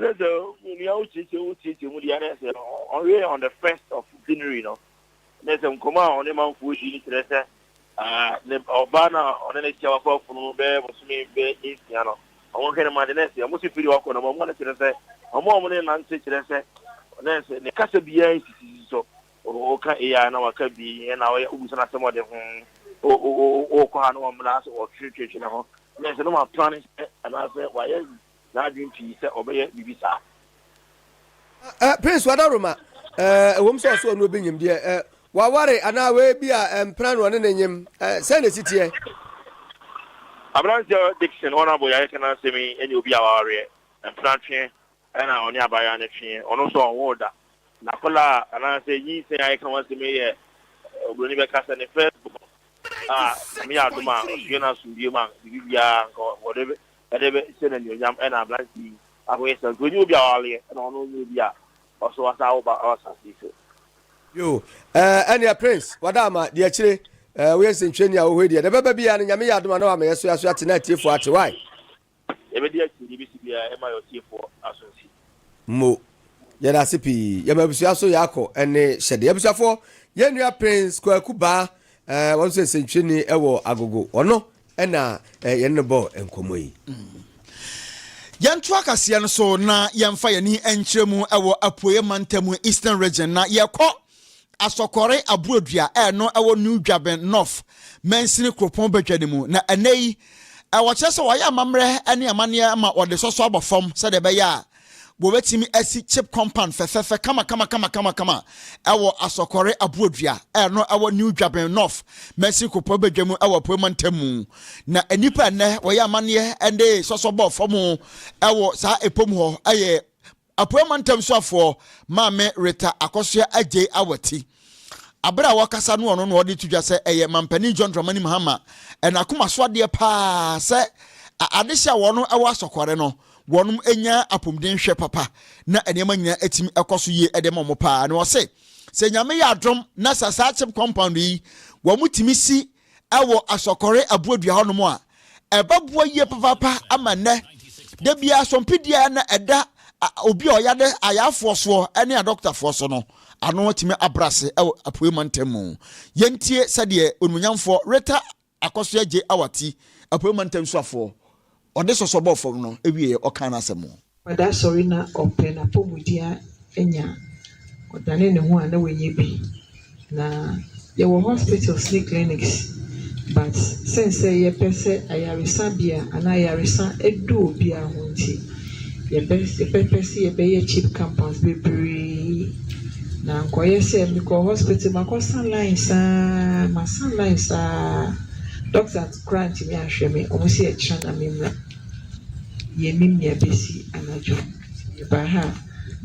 Kyerɛ sɛ onua wokyerɛkyerɛ mu wokyerɛkyerɛ mu deɛ na sɛ ɔwɛ on the first of January no na sɛ nkɔmɔ a ɔne manfoɔ di no kyerɛ sɛ ne ɔbaa no a ɔne ne kyɛ wakɔ afunu no bɛyɛ bosome bɛyɛ nsia no ɔmo hwɛ no ma de na sɛ ɔmo si firi wakɔ no ɔmo no kyerɛ sɛ ɔmo a ɔmo ne nante kyerɛ sɛ na sɛ ne kasa biara nsisisi so ɔka eya na waka bi na ɔyɛ obusa na asɛm ɔde ho ɔkɔ ha na wɔmmra sɛ ɔtwetwetwe ne ho na sɛ no ma plane sɛ anaasɛ wayɛ n'adwene pii sɛ ɔbɛyɛ biribi saa. Eh, Prince Wadaroma, eh, ɛwom sɛ ɔso ɔno obi nyim deɛ, eh, waware anaa wei bi a eh, mpena no ɔne ne nyim, eh, sɛn na ɛsi teɛ? Aberanteɛ Dickson Honourable yɛayɛ ka n'asɛm yi ɛnyɛ obi a wawareɛ, mpena tweɛ ɛna ɔne abaayewa no tweɛ, ɔno nso ɔnwoo da, na kɔlaa anaasɛ nyinsɛn a yɛka ho asɛm yi yɛ eh, oburoni bɛka sɛ ne first born a Nyame yɛ adom a ɔsue no asomdue mu a biribi biara nka wɔde Ɛde bɛ hyɛ no anuonyam ɛna aberante yi baako yɛ sɛ nti ɔnyi obi a ɔawareɛ ɛna ɔno ɔnyɛ obi a ɔso ɔsan awo ba wɔ asase yi so. Yoo ɛɛ ɛneɛ Prince Wadaama deɛ akyire ɛɛ woyɛ nsɛntwerɛni a wohoi deɛ deɛ ɛbɛba biara no Nyame yɛ adom a na wama yɛso yɛaso yɛate na atiefoɔ ate wai? Yɛbɛdi akyire deɛ ɛbɛsi biara ɛma yɛ ɔtiefoɔ aso nsi. Mo. Yɛdaase pii. Yɛma abusua so yɛakɔ ɛne hyɛdeɛ. Abusuafoɔ yɛn nua Prince Kwaku Baa ɛɛ wɔn nso yɛ nsɛntwerɛni ɛwɔ Agogo. Ɔno. Ɛna yɛne no bɔɔ nkɔmmɔ yi. Yɛntoa kaseɛ no so na yɛmfa yɛn ani nkyerɛ mu wɔ apueeɛ mantam, Eastern Region, na yɛkɔ Asɔkɔre Aburodua a ɛno ɛwɔ New Dwaben North mansini kuropɔn badwa no mu. Na ɛnɛ yi, wɔkyerɛ sɛ wɔayɛ amammerɛ ne amanneɛ ma wɔde sɔsɔ abɔ fam sɛdeɛ ɛbɛyɛ a Wɔbɛtumi asi chip compound fɛfɛɛfɛ kamakamakamakama wɔ Asɔkɔre Aboɔdua a ɛno ɛwɔ New Dwaben North, Mercy Kupɔ badwa mu wɔ Apueɛ Mantam mu. Na nnipa a nnɛ wɔyɛ amanneɛ de sɔsɔ bɔɔ fam wɔ saa ɛpɔ mu hɔ yɛ Apueɛ Mantam soafoɔ Maame Rita Akosua Adjei Awati. Aberɛ a ɔkasa no ɔno na ɔde to dwa sɛ ɛyɛ Mampanin John Dramani Mahama n'akomasoadeɛ paa sɛ adehyɛ a wɔn ɛwɔ Asɔkɔre no wɔnom nya apomden hwɛ papa na nneɛma nyinaa atumi ɛkɔ so yie ɛde ma wɔn paa na ɔse sɛ nyame yɛ adom na sa saa chip compound yi wɔn tumi si ɛwɔ asɔkɔre aboadua hɔ nom a ɛbɛboa yie papaapa ama nnɛ da biara asɔmpedua na ɛda obi a ɔyade ayaafoɔ soɔ ɛne adɔktafoɔ so no ano atumi abrase ɛwɔ apuei mantam mu yɛntie sɛdeɛ onimonyamfoɔ reta Akɔsoɛ Gye Awati, Apuei Mantam Suafoɔ, ɔde sɔsɔ bɔɔ fam no wieɛ ɔkaa n'asɛm. Wadaa sɔre na ɔpɛ n'apɔmuden anya, ɔdane ne ho a na wanyɛ bi. Na yɛwɔ hospitals ne clinics but sensɛ yɛpɛ sɛ ayaresabea anaa ayaresa adu obiara ho nti yɛbɛpɛ sɛ yɛbɛyɛ cheap compounds bebree na ankɔyɛ sɛ mekɔ hospital makɔsa line saa masa line saa doctors koraa ntumi anhwɛ me wɔn sɛ ɛkyena na memmra yɛnim nea ɛbɛsi anadwo yɛbaa ha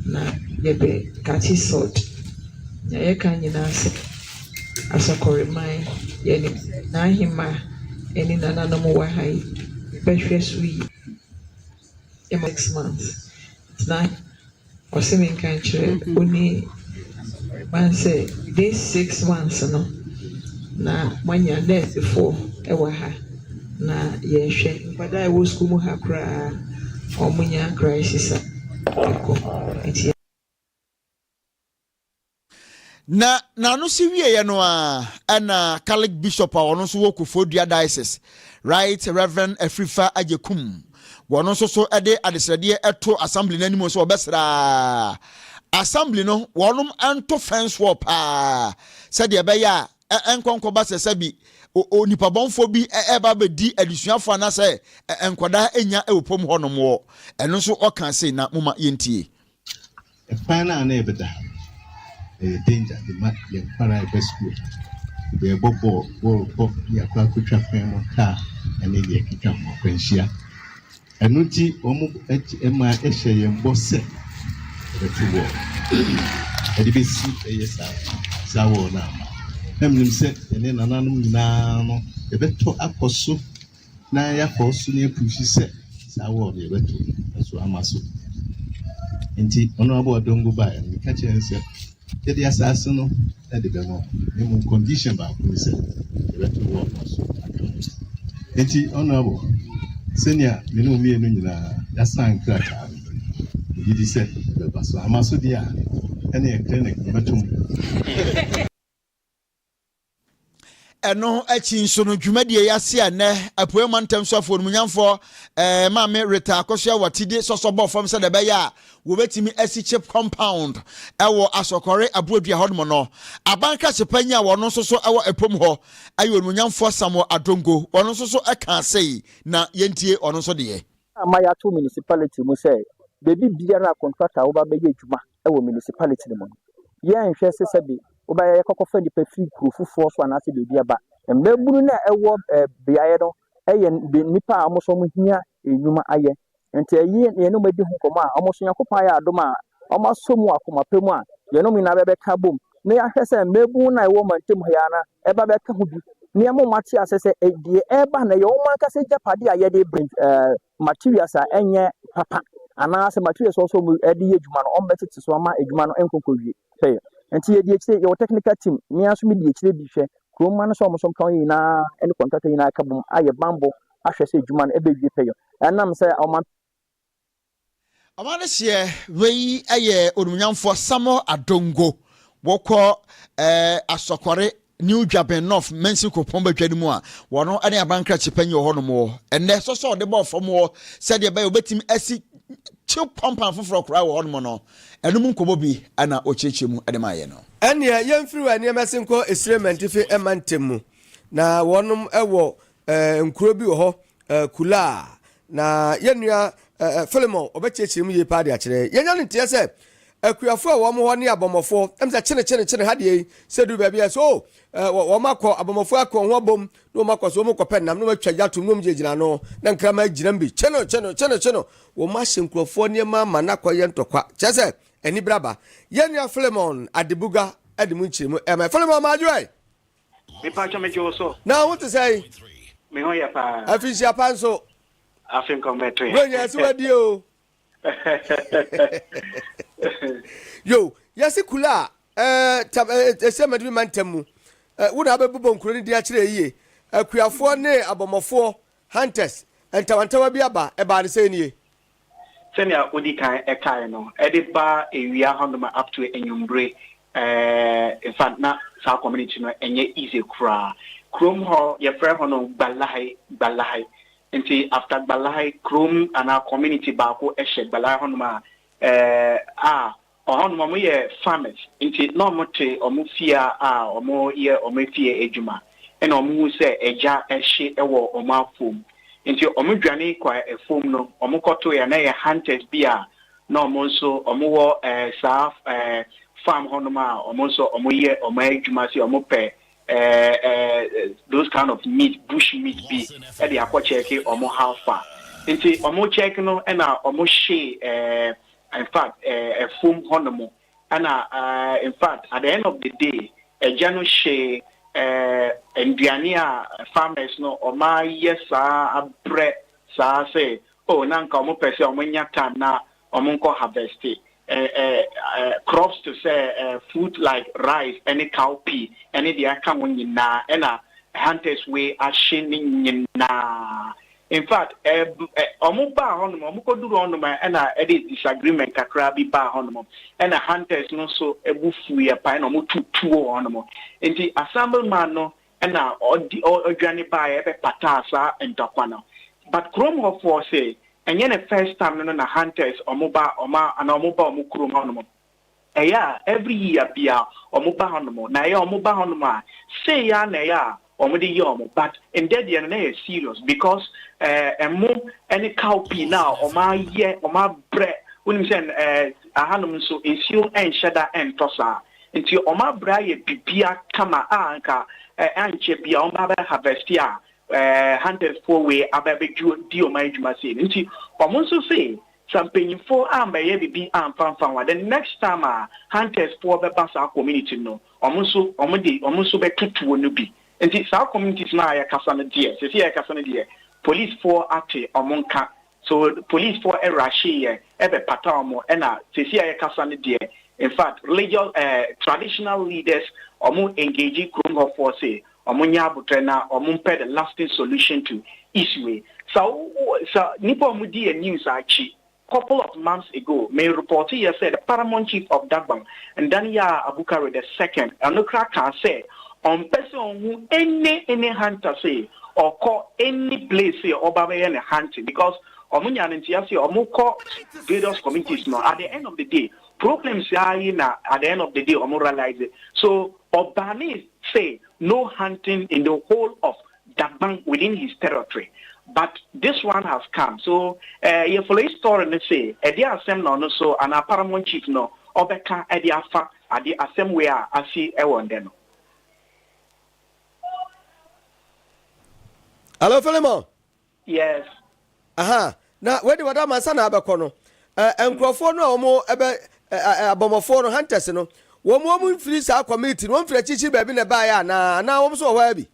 na yɛbɛ kakye salt na yɛka nyinaa sɛ asɔkɔreman yɛnim sɛ n'ahemaa ɛne nananom wɔ ha yi yɛbɛhwɛ so yie. ɛma six months na ɔse menka nkyerɛ ɔni ba no sɛ this six months no na moanya nɛɛsefoɔ wɔ ha na yɛhwɛ nkwadaa ɛwɔ sukuu mu ha koraa wɔnya crisis a ɛkɔ nti Na n'ano si wieeɛ no ara, ɛna Catholic bishop a ɔno nso wɔ Koforidua diocese, Right Reverend Afrifa Agyekum, wɔn nso so de adesrɛdeɛ to assembly no anim sɛ wɔbɛsrɛ assembly no wɔn nto fence wall paa sɛdeɛ ɛbɛyɛ a ɛnkɔnkɔba sɛ sɛbi onipabɔnfoɔ bi ɛba bɛdi adesuafoɔ anaasɛ nkwadaa nya ɛwɔ pom hɔnom wɔ ɛno nso ɔka se na moma yɛntie Kwan no a na yɛbɛda ha no, ɛyɛ danger de ma yɛn nkwadaa a yɛba sukuu ha no. Yɛrebɔ bɔɔl, bɔɔlbɔ, ne yɛakɔ akɔtwa kwan mu kaa ne deɛ ɛkeka ho akwanhyia. Ɛno nti, wɔma ɛhyɛ yɛn bɔ sɛ yɛbɛto bɔɔl. Ɛde bɛsi ɛyɛ saa saa bɔɔl no ama. Na menim sɛ yɛne nananom nyinaa no, yɛbɛtɔ akɔ so na yɛakɔ so na yɛapuhyi sɛ saa wall no yɛbɛto nanso ama so. Nti Honorable Odongo baeɛ no meka kyerɛ no sɛ yɛde asaase no de bɛma wo na mmom condition baako ne sɛ yɛbɛto wall no so aka ho. Nti Honorable, sɛnea me ne wo mmienu nyinaa yɛasan krataa no, megye di sɛ ɛbɛba so. Ama so deɛ a, ɛne ɛkrɛ na ɛbɛtom. ɛno akyi nso no dwumadie yi ase a nnɛ apueɛ mantam so afɔ onimonyamfoɔ ɛɛ eh, maame reta akosua wɔ ti de sɔsɔ bɔ fam sɛdeɛ ɛbɛyɛ a wɔbɛtumi asi chip compound ɛwɔ eh, asɔkɔre aboadua hɔnom no aban krasepanyi a wɔn nso so ɛwɔ eh, ɛpom hɔ ɛyɛ onimonyamfoɔ samuel adongo wɔn nso so ɛka sei na yɛntie ɔno nso deɛ ama yɛato municipality mu sɛ baabi biara a contractor a wɔba bɛyɛ adwuma wɔ municipality no mu no, yɛnhwɛ sɛ sɛbe wobɛyɛ yɛkɔkɔfa nnipa firi kuro foforɔ so anaasɛ baabi aba. Mmabunu no a ɛwɔ eh, beaeɛ no yɛ nnipa a wɔn nso wɔn hia nnwuma ayɛ. Nti ɛyi yɛne wɔn adi ho nkɔmmɔ a wɔn nso Nyankopɔn ayɛ adom a wɔn asɔ mu akoma pɛ mu a yɛne wɔn nyinaa bɛbɛka bom na yɛahwɛ sɛ mmabunu no a ɛwɔ mantam ha yɛ na ɛba bɛka ho bi na yɛma wɔn ate asɛ sɛ eh, deɛ ɛreba na ɛyɛ wɔn ankasa agyapadeɛ a yɛde brɛ eh, materials a ɛnyɛ papa anaa sɛ materials a wɔsɛ wɔn de yɛ adwuma no wɔn bɛ tete so ama adwuma no nkɔ nkɔ wie pɛyɛ nti yɛ di akyire yɛ wɔ technical team mmea nso mi di akyire bi hwɛ kurom ma no sɛ wɔn nso mpɛn yɛ nyinaa ɛne contractor nyinaa ɛka bom ayɛ bambɔ ahwɛ sɛ adwuma no ɛbɛ wie pɛyɛ ɛnam sɛ wɔn Awareseɛ wei yɛ Onimnyamfoɔ Samuel Adongo wɔkɔ eh, Asɔkɔre New Dwaben North Mansin Kopɔn Badwa no mu a wɔno ne abankrakye panyin wɔ hɔnom wɔ ɛnɛ sɔsɔ ɔde bɔɔ fam wɔ sɛdeɛ ɛbɛyɛ wɔbɛtumi asi kyew pampan foforɔ koraa wɔ hɔnom no ɛno mu nkɔmmɔ bi na ɔkyerɛkyerɛ mu de maayɛ no. Ɛnneɛ yɛmfiri wɔn nneɛma ase nkɔ Esire Mantifi mma ntam mu, na wɔnom wɔ Eh, nkuro bi wɔ hɔ, eh, Kulaa. Na yɛn nua eh, eh, Philemon, ɔbɛkyerɛkyerɛ mu yie paa de akyerɛ yɛn. Yɛnya ne nteɛ sɛ, akuafoɔ a wɔn hɔ ne abɔmmɔfoɔ, ɛm sɛ kyene kyene kyene ha deɛ yi, sɛ duru baabi a ɛsɛ, oh, eh, wɔ- wɔn akɔ, abɔmmɔfoɔ akɔ wɔn ho abom, na wɔn akɔ so, wɔn kɔpɛ nam, na wɔn atwa gya tom, na wɔn gyinagyina ano, na nkraman gyinam bi, kye no, kye no, kye no, kye no. Wɔn ahyɛ nkurɔfoɔ nneɛma ama no akɔyɛ ntɔkwa. Kyerɛ sɛ, anibere aba. Yɛn nua Philemon Adebuga de mu nkyerɛmu ɛma. Philemon Maajoe! Mepatwɔ me dwo wo so. Na wo te sɛn? Me ho yɛ paa. Afinhyia pa nso. Afe nkɔm bɛ to yɛ. Bro nyɛ ɛsi wa die o. Yo yɛsi kula a ɛɛ tam ɛɛ ɛsɛ mɛdimi ma ntɛm mu. Ɛ wo na abɛ bobɔ nkuro ne din akyerɛ yie. Akuafoɔ ne abɔmɔfoɔ, hunters, ntawantawa bi aba ɛbaa ne sɛn nie. sɛnea odi kan kae no, ɛde ba awia hɔnom up to anwummere. Eh, in fact, na saa community no ɛnyɛ easy koraa. Kurom hɔ, yɛfrɛ hɔ no Gbalahe, Gbalahe. Nti after Gbalahe, kurom anaa community baako hyɛ Gbalahe hɔnom a, eh, a Ɔhɔnom wɔyɛ farmers nti na wɔte wɔn fie a wɔyɛ wɔn afie adwuma na wɔhu sɛ agya hye wɔ wɔn afuom nti wɔdwane kɔ afuom no wɔkɔtoeɛ a na ɛyɛ hunters bi a na wɔn nso wɔwɔ saa farm hɔnom a wɔn nso wɔyɛ wɔn adwuma sɛ wɔpɛ those kind of meat bush meat bi de akɔkyɛke wɔn how far nti wɔkyɛke no na wɔhyee Infact ɛfom hɔ nom ɛna infact at the end of the day ɛgya no hyee nduane a farmers no wɔn ayɛ saa abrɛ saa sɛ oh na nka wɔn pɛ sɛ wɔn nya time na wɔn nkɔ harvest crops to sɛ fruit like rice ɛne cow pea ɛne deɛ aka ho nyinaa ɛna hunters wei ahye ne nyinaa. In fact, um, um, wɔbaa hɔnom, wɔkɔduru hɔnom a, ɛna ɛde disagreement kakra bi baa hɔnom. Ɛna hunters no nso bu fuiɛ paa, ɛna wɔtu tuo wɔ hɔnom. Nti assembleman no ɛna ɔdi ɔdwane baeɛ ɛbɛpataa saa ntɔkwa no. But kurom hɔfoɔ se, ɛnyɛ ne first time no no na hunters wɔba wɔn anaa wɔba wɔn kurom hɔnom. Ɛyɛ a every year bia ɔmo ba hɔnom na ɛyɛ a ɔmo ba hɔnom a sei ara na ɛyɛ a ɔmo de yɛ ɔmo but ndɛ deɛ no na ɛyɛ serious because ɛɛ ɛmo ɛne cow pii na ɔmo ayɛ ɔmo abrɛ wonim sɛ ɛɛ ahanom nso nsuo ɛnhyɛ da ɛntɔ saa nti ɔmo abrɛ ayɛ bibia kama a nka ɛɛ ankyɛ bia ɔmo bɛ abɛ harvest a ɛɛ hunters foɔ wei abɛ abɛ di ɔmo adwuma sei no nti ɔmo nso se Sa mpanyinfo a mɛ yɛ bibi a nfa nfa wa the next time a hunters foɔ bɛ ba saa community no ɔmo nso ɔmo de ɔmo nso bɛ to tuo no bi nti saa communities no a yɛ kasa no deɛ sɛsɛ yɛ kasa no deɛ police foɔ ate ɔmo nka so police foɔ ɛrashe yɛ ɛbɛ pata ɔmo ɛna sɛsɛ a yɛ kasa no deɛ infact religious ɛɛ traditional leaders ɔmo engage krom hɔ foɔ se Ɔmo nyɛ aboterɛ na ɔmo mpɛ the lasting solution to issue wei. Sɛ wo wo sɛ nipa a ɔmo di yɛ news akyi couple of months ago me report yɛ sɛ the paramount chief of Dagbang, Ndaniyah Abukari the second ɛno koraa kaa sɛ ɔmpɛ sɛ ɔhu any any hunter sɛ ɔkɔ any place sɛ ɔba abɛyɛ ne hunting because ɔmo nyaa no nteaseɛ sɛ ɔmo kɔ various communities no at the end of the day problems ara yi na at the end of the day ɔmo realise so Obanis say no hunting in the whole of Dagbang within his territory but this one has come so eh yɛ follow yi story no say ɛdeɛ asɛm na ɔno so anaa Paramount chief no ɔbɛka de afa adeɛ asɛm wei a asi wɔ ndɛ no. Hello Philemon. Yes. Aha, na wei de wɔda ma nsa na abɛkɔ no. Ɛ nkurɔfoɔ no a wɔn ɛbɛ ɛ ɛ abɔmmɔfoɔ no, hunters no, wɔn wɔn mfiri saa community no, wɔn mfiri akyirikyiri baabi na ɛbaeɛ anaa? Anaa wɔn nso wɔ hɔ ara bi?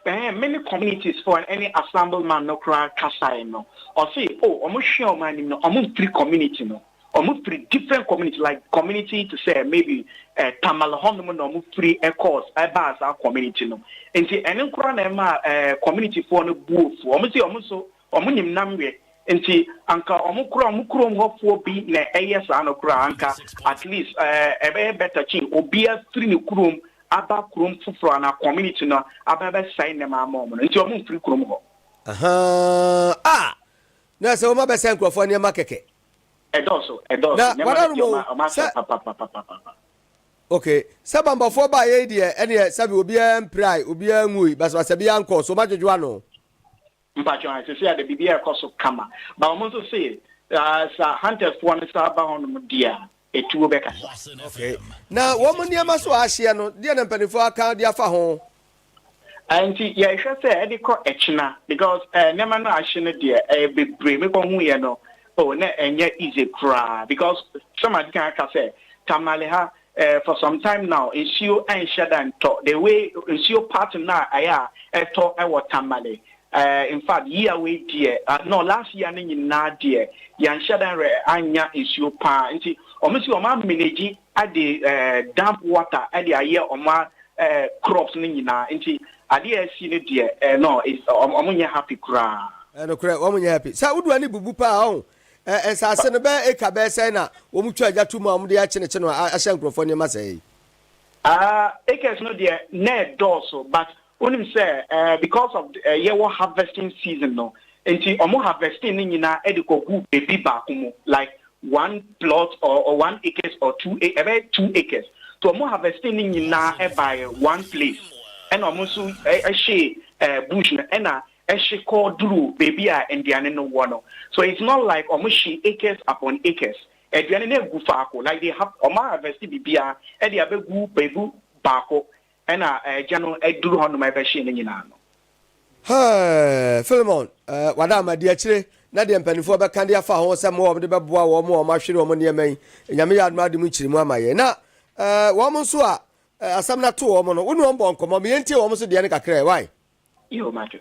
Ɛɛ, me ne communities foɔ no ɛne assembleman no koraa kasaeɛ no, ɔse o wɔn hwɛ wɔn anim no, wɔn mfiri community no. Wɔn firi different community like community te sɛ maybe eh, Tamale hɔnom na wɔn firi eh, course ɛbaa eh, saa community no nti ɛne nkora na ɛma eh, community foɔ no bu ofu wɔn si wɔn nso wɔn nim nam yɛ nti anka wɔn kora wɔn kurom hɔfoɔ bi na ɛyɛ saa no kora anka at least eh, ɛbɛyɛ better kyin obiara firi ne kurom aba kurom foforɔ na community no aba bɛsɛe nnɛma ama wɔn no nti wɔn mfiri kurom hɔ. Aha, ah, na sɛ wɔn abɛsɛe nkurɔfoɔ nneɛma kɛkɛ. Na wadarom o, sɛ Okay, sɛ bambɔfoɔ baeɛ yi deɛ ɛneɛ sɛbi obiara mpirae, obiara nwui, basabasa biara nkɔɔ so, wɔadwodwo ano. Mpakyɛw a sisi a de biribi ɛkɔ so kama ba wɔn nso se saa hunters foɔ no saa ba hɔ nom deɛ a. Etuo bɛkasa. Okay. Na wɔn nneɛma so a ahyeɛ no, deɛ na mpanimfoɔ aka de afa ho? Nti yɛhwɛ sɛ ɛde kɔ ɛkyena because eh, nneɛma no ahye no deɛ ɛyɛ eh, bebree mekɔ hu yɛ no oh na ɛnyɛ easy koraa because sɛm adi kan aka sɛ tamale ha eh, for some time now nsuo ɛnhyɛ da ntɔ the way nsuo part no a ɛyɛ a ɛtɔ ɛwɔ tamale Eh infact year wei deɛ ah no last year no nyinaa deɛ yɛanhyɛ da nrɛ annya nsuo paa nti ɔmo se ɔmo a manage ade eh damp water de ayɛ ɔmo a eh crops no nyinaa nti adeɛ a asi no deɛ eh no is ɔmo ɔmo nyɛ happy koraa. Eh nokorɛ wɔn nyɛ happy saa wodoɔ no bubu paa ɔho eh nsaase no bɛyɛ acre bɛyɛ sɛn na wɔn twa gya to mu a wɔn de akyenekye no a ahyɛ nkorɔfoɔ nneɛma sɛɛ yi. Ah acres no deɛ na ɛdɔɔso but wonim sɛ eh, because of eh, yɛwɔ harvesting season no nti ɔmo harvesting ne nyinaa de kɔgu baabi baako mu like one plot or, or one acres or two a- ɛbɛyɛ two acres to ɔmo harvesting ne nyinaa ɛbaeɛ one place ɛna ɔmo nso ɛ- ɛhye eh, bush no ɛna ɛhye kɔ duru baabi a nnuane no wɔ no so it's not like ɔmo hye acres upon acres Aduane no agu faako like they have wɔn harvest biribiara de abɛgu baabi baako ɛna ɛgya no aduru hɔ nom ɛbɛhye ne nyinaa no. Hɛɛɛɛ Philemon eh, wada ama di akyire na deɛ mpanimfoɔ bɛka de afa ho sɛ mmoa wɔn de bɛboa wɔn a wɔahwere wɔn nneɛma yi Nyame yɛ adom ade mu nkyerɛmu ama yɛn na eh, wɔn nso a eh, asɛm no ato wɔn no wo ne wɔn bɔ nkɔmmɔ meyɛntie wɔn nso deɛ no kakra ɛ why? Yo, Matthew.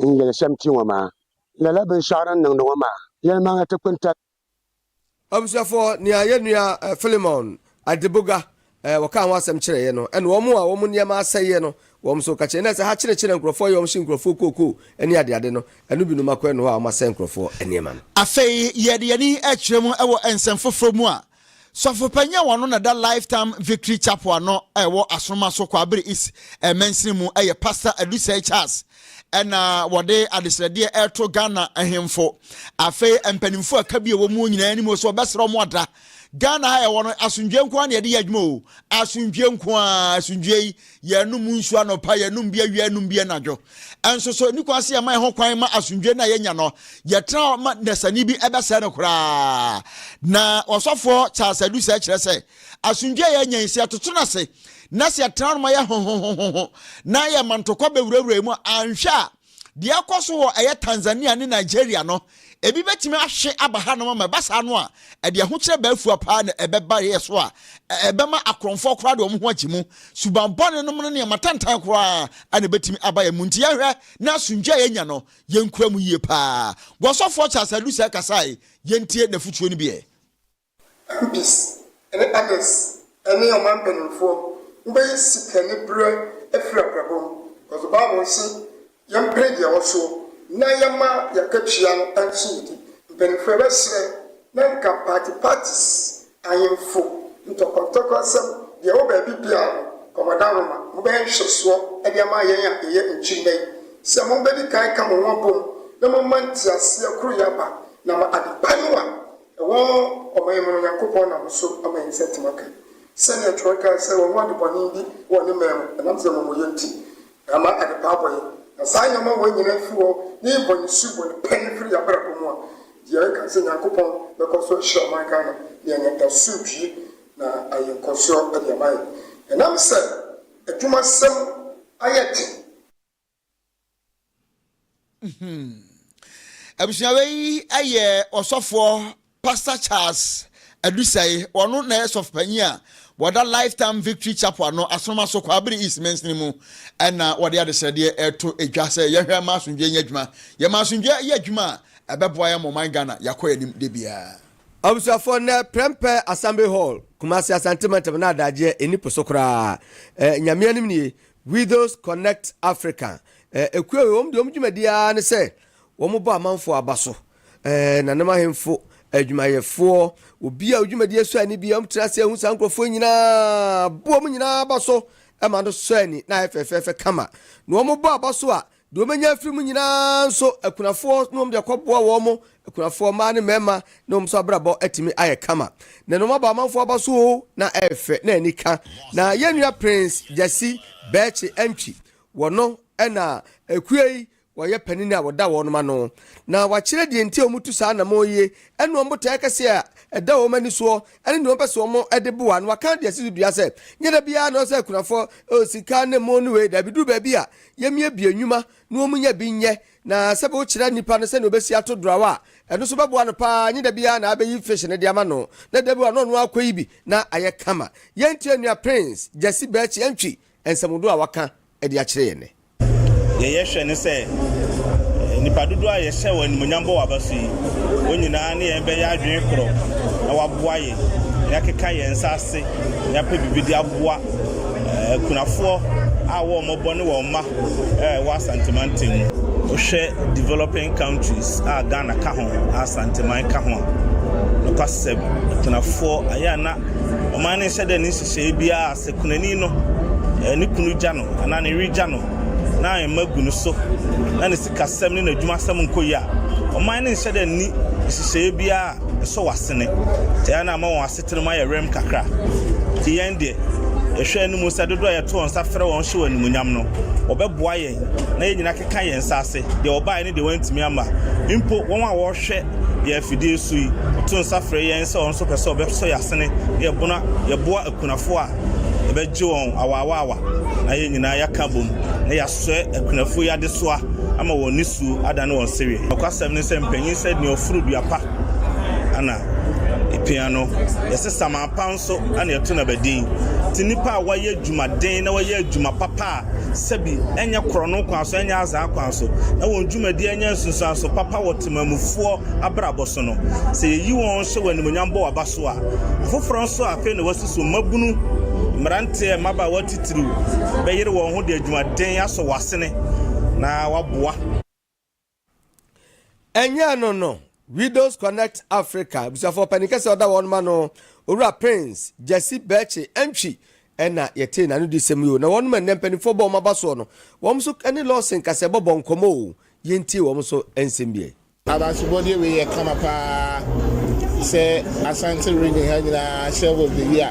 n yelesɛm ti ŋɔ maa, lala binshɛɣu din niŋdi ŋɔ maa yɛlimaŋli ti kpini tali. Abusuafo, nea yɛn nua Filemon Adegboga wɔ kaa ho asɛm kyerɛ yɛn no, ɛne wɔn a wɔn nneɛma asɛeɛ no wɔn nso ka kyerɛ yɛn. Ɛna sɛ ha kyerekyere nkurɔfoɔ yɛ wɔn hye nkurɔfoɔ kookoo ne adeade no, ɛno binom akɔ ɛno hɔ a wɔasɛe nkurɔfoɔ nneɛma no. Afei yɛde yɛn ani kyerɛ mu wɔ nsɛm foforɔ mu a Sɔfopanyin a ɔno na ɛda Lifetime Victory Chapel ano a ɛwɔ Asoroma so, Kwabere East eh, mansini mu yɛ Pastor Adusɛe Charles ɛna wɔde adesrɛdeɛ ɛreto Ghana ahemfo afei mpanimfoɔ ɛka bi ɛwɔ mu nyinaa anim sɛ wɔbɛsrɛ wɔn ada Ghana ha ɛwɔ no asomdwoeɛ nko ara na yɛde yɛ adwuma o asomdwoeɛ nko ara asomdwoeɛ yi Yɛnom nsu anɔpa, yɛnom bi awia, yɛnom bi anadwo. Ɛnso so, ɛni kwan sɛ yɛma yɛn ho kwan ma asomdwoe no a yɛnya no, yɛtra hɔ ma dasani bi bɛsɛe no koraa. Na ɔsɔfoɔ Charles Taduser kyerɛ sɛ, Asomdwoe a yɛanya yi, sɛ yɛtoto no ase na sɛ yɛtra no ma yɛhohohoho na yɛma ntɔkwa bɛwurawura yɛn mu a, anhwɛ a, Deɛ ɛrekɔ so wɔ ɛyɛ Tanzania ne Nigeria no, ebi bɛtumi ahwe aba hanom ama ɛba saa no a, ɛde ahokyerɛ baa fua paa na ɛbɛba yɛ so a, ɛbɛma akorɔmfoɔ koraa de wɔn ho agye mu. Suban bɔne nom ne nneɛma tantan koraa na ɛbɛtumi aba yɛn mu. Nti yɛnhwɛ na asomdwoeɛ a yɛnya no, yɛnkura mu yie paa. Gɔsɔfoɔ Charles Adu Sɛɛ kasae, yɛntie n'afotuo no bi ɛ. MPs ne others ne ɔman mpaninfoɔ wobɛyɛ sika ne berɛ afiri abrabɔ mu cos the bible se yɛmpere deɛ ɛwɔ soɔ na yɛma yɛakatua no nso yɛdi mpaninfoɔ yɛbɛserɛ na nka party parties ahenfo ntɔkɔntɔkɔ nsɛm deɛ ɛwɔ baabi biara no kɔmɔdanroma mobɛyɛ nhwɛsoɔ de ama yɛn a yɛyɛ nkyirimma yi sɛ mobɛdi kan ka mo ho abom na moma nteaseɛ koroyɛ aba na ma adepa no a Ɛhɔ ɔma yɛn mene Onyankopɔn nam so ama yɛn nsa tim aka. Sɛdeɛ twerɛ kae sɛ, Wɔnhu ade bɔne bi wɔ ne mɛn mu, ɛnam sɛ amumuyɛ nti, na ama adepa abɔ yɛn. Na saa nneɛma wei nyinaa firi hɔ, ne yɛn bɔne su wɔ ne pɛ no firi yɛn abrabɔ mu a, deɛ ɛka sɛ Nyankopɔn bɛkɔ so ahyira ɔman Ghana na yɛanya asomdwie na ayɛ nkɔsoɔ de ama yɛn. Ɛnam sɛ adwumasɛm ayɛ den. abusua wei yɛ ɔsɔfoɔ pastor charles adusɛe wɔn na yɛ sɔfo panyin a wɔda lifetime victory chapel ano asoroma so kɔ abiri east mansini mu ɛna wɔde adesrɛdeɛ ɛto edwa sɛ yɛhwɛ ma asomdwe nyɛ adwuma yɛ ma asomdwe yɛ adwuma a ɛbɛboa yɛ mɔman ghana yɛakɔ yɛn anim de biara. abusuafoɔ nnɛ prɛmpɛ assembly hall kumase asante mantam na adagyeɛ ɛni po so koraa eh, nyame anim nie Widows Connect Africa ekuo wei wɔn deɛ wɔn dwumadie ara ne sɛ wɔn bɔ amanfoɔ aba so, nanom ahemfo, adwumayɛfoɔ, obiara odwumadie sɔ ani biara wɔn tena ase ehu saa nkorɔfoɔ nyinaa, bɔ wɔn nyinaa aba so ma no sɔ ani na ayɛ fɛfɛɛfɛ kama, na wɔn bɔ aba so a. Deɛ wɔbɛnya afiri mu nyina ara nso, akunafoɔ na wɔde akɔboa wɔn, akunafoɔ mmaa ne mmarima, na wɔn nso abrabɔ atumi ayɛ kama. Nnɛ no wɔabɔ amanfoɔ aba so oo, na ɛyɛ fɛ, na ani ka. Na yɛn nua Prince Gyasi Bɛɛkye Antwi, wɔno na ekuo yi wɔyɛ panin a wɔda wɔnom ano. Na wɔakyerɛ deɛ nti a wɔtu saa anamɔn yie, ɛne wɔn botaeɛ kɛseɛ a ɛda wɔn ani soɔ, ɛne deɛ wɔpɛ sɛ wɔde boa. Na wɔaka deɛ ɛsi so dua sɛ, nyɛ da biara na ɛwɔ sɛ akunafoɔ, oo sika ne mo ne wei, daabi, duru baabi a yɛmmiabia nnwuma na wɔnnya bi nyɛ, na sɛ bi wokyerɛ nipa no sɛnea ɔbɛsi ato drawa a, ɛno nso bɛboa no pa ara, nye da biara na abɛyi fish no de ama no, na da bi wɔ a na ɔno ara kɔyi bi na ayɛ kama. Yɛntie nea Prince Gyasi Berkyi Antwi nsɛmhudo a waka de akyerɛ yɛn nnɛ. Deɛ yɛhwɛ ne sɛ nnipa dodoɔ a yɛhyɛ wɔn animuonyam bɔ wɔn aba so yi, wɔn nyinaa ne yɛn bɛyɛ adwene korɔ na wɔaboa yɛn, na yɛakeka yɛn nsa ase na yɛapɛ biribi de aboa akunafoɔ a wɔn mmɔbɔ ne wɔn mma ɛwɔ asantemantam mu. Wohwɛ developing countries a Ghana ka ho, asanteman ka ho a, nokwasɛm akunafoɔ ɛyɛ a na ɔman no nhyɛ dɛ ne nhyehyɛe biara sɛ kunani no ne kunu gya no anaa ne yere gya no na mma gu no so na ne sikasɛm ne n'adwumasɛm nkɔ yie a ɔman no nhyɛ dɛ ne nhyehyɛe biara ɛsɔ w'asene. Ɛyɛ na ama wɔn ase Tena mu ayɛ werɛm kakra. Enti yɛn deɛ, yɛhwɛ anim sɛ dodoɔ a yɛto wɔn nsa frɛ wɔn hyɛ wɔn animuonyam no, wɔbɛboa yɛn na yɛn nyinaa akeka yɛn nsa ase, deɛ wɔbaeɛ ne deɛ wɔantumi amma. Mpo wɔn a wɔhwɛ yɛn afidie so yi to nsa frɛ yɛn sɛ wɔn nso pɛ sɛ wɔbɛsɔ yɛn asene na yɛboa, yɛboa akunafoɔ a yɛbɛgye wɔn awaawaawa na yɛn nyinaa yɛaka abom na yɛasɔɛ akunafoɔ yi adesoa ama wɔn nisuo adane wɔn sereɛ. Nokwasɛm ne sɛ, mpanyin sɛ nea ɔforo dua pa na epia no, yɛse samapa nso na yɛto no abadin. Nti nnipa a wɔayɛ adwumaden na wɔyɛ adwuma papa a sɛbi ɛnyɛ korɔno kwan so, ɛnyɛ azaa kwan so, na wɔn dwumadi ɛnyɛ nsunsuanso papa wɔ temamufoɔ abrabɔ so no, sɛ yɛyi wɔn hyɛ wɔn animuonyam bɔ waba so a, afoforɔ nso a afei na wɔasi so mmabunu, mmeranteɛ, mmabaawa titiriw bɛyere wɔn ho de adwumaden asɔ wɔn asene na wɔaboa. Ɛnyɛ ɛno no, Widows Connect Africa abusuafoɔ panin kɛse ɔda wɔn ma no Owura Prince Gyasi Bɛɛkye Antwi ɛna yɛtee n'ano di sɛm yi o. Na wɔn ma nnɛ mpanimfoɔ bɔ wɔn aba soɔ no, wɔn nso ne Lawson Kasɛ bɔbɔ nkɔmmɔ o. Yɛntie wɔn nso nsɛm bi ɛ. Abansubɔdeɛ wei yɛ kama paa sɛ Asante region ha nyinaa hyɛ wɔ the year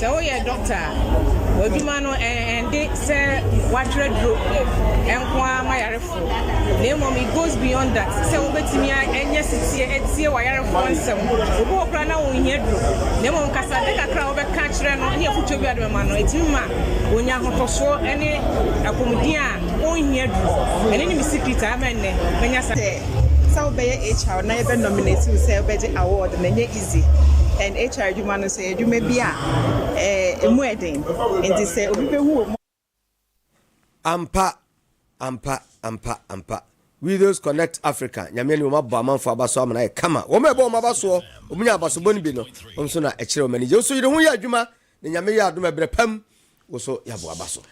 Sɛ woyɛ dɔkta a, w'adwuma no ɛnde sɛ woatwerɛ duro nko ara ma yarefoɔ, na mmom it goes beyond that. Ɛsɛ sɛ wobɛtumi anya setie atie w'ayarefoɔ nsɛm. Obi wɔ koraa na ɔnhia duro, na mmom kasade kakra a wobɛka akyerɛ no ne afotuo bi a wode bɛma no, ɛtumi ma ɔnya ahotosoɔ ne apɔmuden a ɔnhia duro. Ɛno ne me secret a ama ɛnnɛ manya saa. Sɛ wobɛyɛ HR na yɛbɛ nominate wo sɛ wobɛgye award no, ɛnyɛ easy. Esi NHR adwuma no so yɛ adwuma bi a emu yɛ den, enti sɛ obi behu wɔ mu a. Ampa, ampa, ampa, ampa. Widows Connect Africa, Nyame ani wɔn abɔ amanfo aba so ama no ayɛ kama. Wɔn a ɛbɔ wɔn aba soɔ, wɔn nya abasobɔ no bi no, wɔn nso na ɛkyerɛ wɔn anigye. Wo nso yere ho yɛ adwuma Na Nyame yɛ adom ɛberɛ pam wo so yɛ aboa ba so.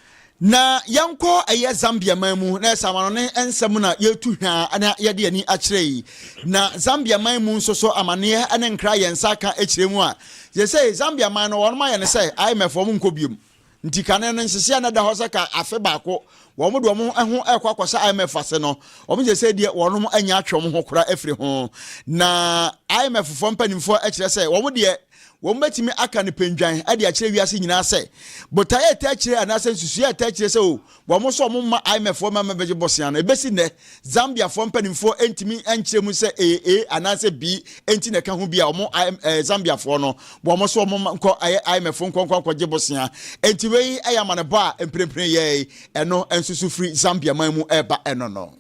Na yɛnkɔ ɛyɛ Zambia man mu na ɛsɛ amanɔne nsɛm na yɛtu hwaa na yɛde ani akyerɛ yi. Na Zambia man mu nso so amaneɛ ne nkra yɛn nsa aka kyerɛ mu a, sesei Zambia man no wɔnom ayɛ no sɛ IMF wɔn nkɔ biom. Nti kane no nhyehyɛɛ no ɛda hɔ sɛ ka afe baako wɔn de wɔn ho ɛkɔ akɔhyɛ IMF ase no, wɔn sesei deɛ wɔnom anya atwe wɔn ho kora afiri ho. Na IMF foɔ mpanimfoɔ ɛkyerɛ sɛ wɔn deɛ Wɔbɛtumi aka nipadwan de akyerɛ wiase nyinaa sɛ botae a ɛtaa kyire anaasɛ nsusuiɛ a ɛtaa kyire sɛ o, wɔn nso wɔn mma IMFfoɔ mma mmɛbɛgye bosea no. Ɛbɛsi nnɛ, Zambiafoɔ mpanimfoɔ ntumi nkyerɛ mu sɛ ɛyɛ A anaasɛ B nti na ɛka ho bi a wɔn IM, eh, Zambiafoɔ no, wɔn nso wɔn mma nkɔ ayɛ IMF nkɔ nkɔ nkɔgye bosea. Enti wei yɛ amanebɔ a mprempren yɛe, ɛno nso so firi Zambia man mu ɛreba ɛno no.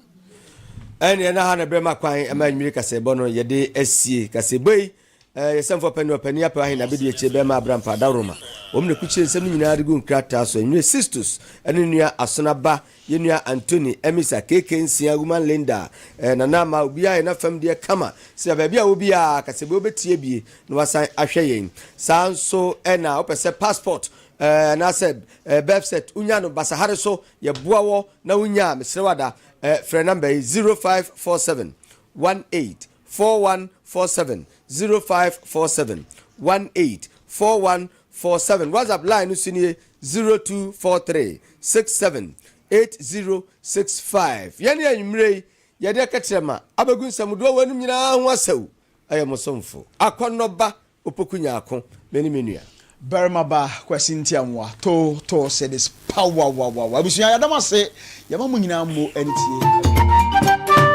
ɛneɛ na ha na ɛbrɛ ma kwan ma anwummere kaseɛbɔ no yɛde asie kaseɛbɔ yi Ɛɛ, yɛ sɛmfoɔ pɛ ne ɔpani apɛ ahe na bɛdi akyire bɛrima Abraham faa dawuroma. Wɔn na ɛkukyire nsɛm no nyinaa de gu nkrataa so. Ɛnwene Sistus ne nua Asona ba, yɛ nua Antoni, Emisa, KK nsia, Woman Linda, ɛɛ, Nana Ama, obiara yɛ n'afam deɛ kama. Sira baabi a wɔ biara, ka sɛ bɛ wobɛtie bie na wasan ahwɛ yɛn. Saa nso na wopɛ sɛ passport, ɛɛ, anaasɛ, ɛɛ, birth cert, wonya no basahare so, yɛboa wɔ na wonya a, mesrɛ wo ada, ɛɛ, frɛ number yi, 0547 18 four one four seven zero five four seven one eight four one four seven whatsapp line no so nie zero two four three six seven eight zero six five yɛne anwummerɛ yi yɛde ɛkɛkyerɛma abɛgu nsɛmdoɔ wɔ anom nyinaa ho asɛw ɛyɛ mo somfo akɔnnɔba opoku nyaako me ne me nua barima ba kwasi ntiamoa to to sɛ this power wa wa wa abusua yɛadam ase yɛma mo nyinaa mo ɛne tie.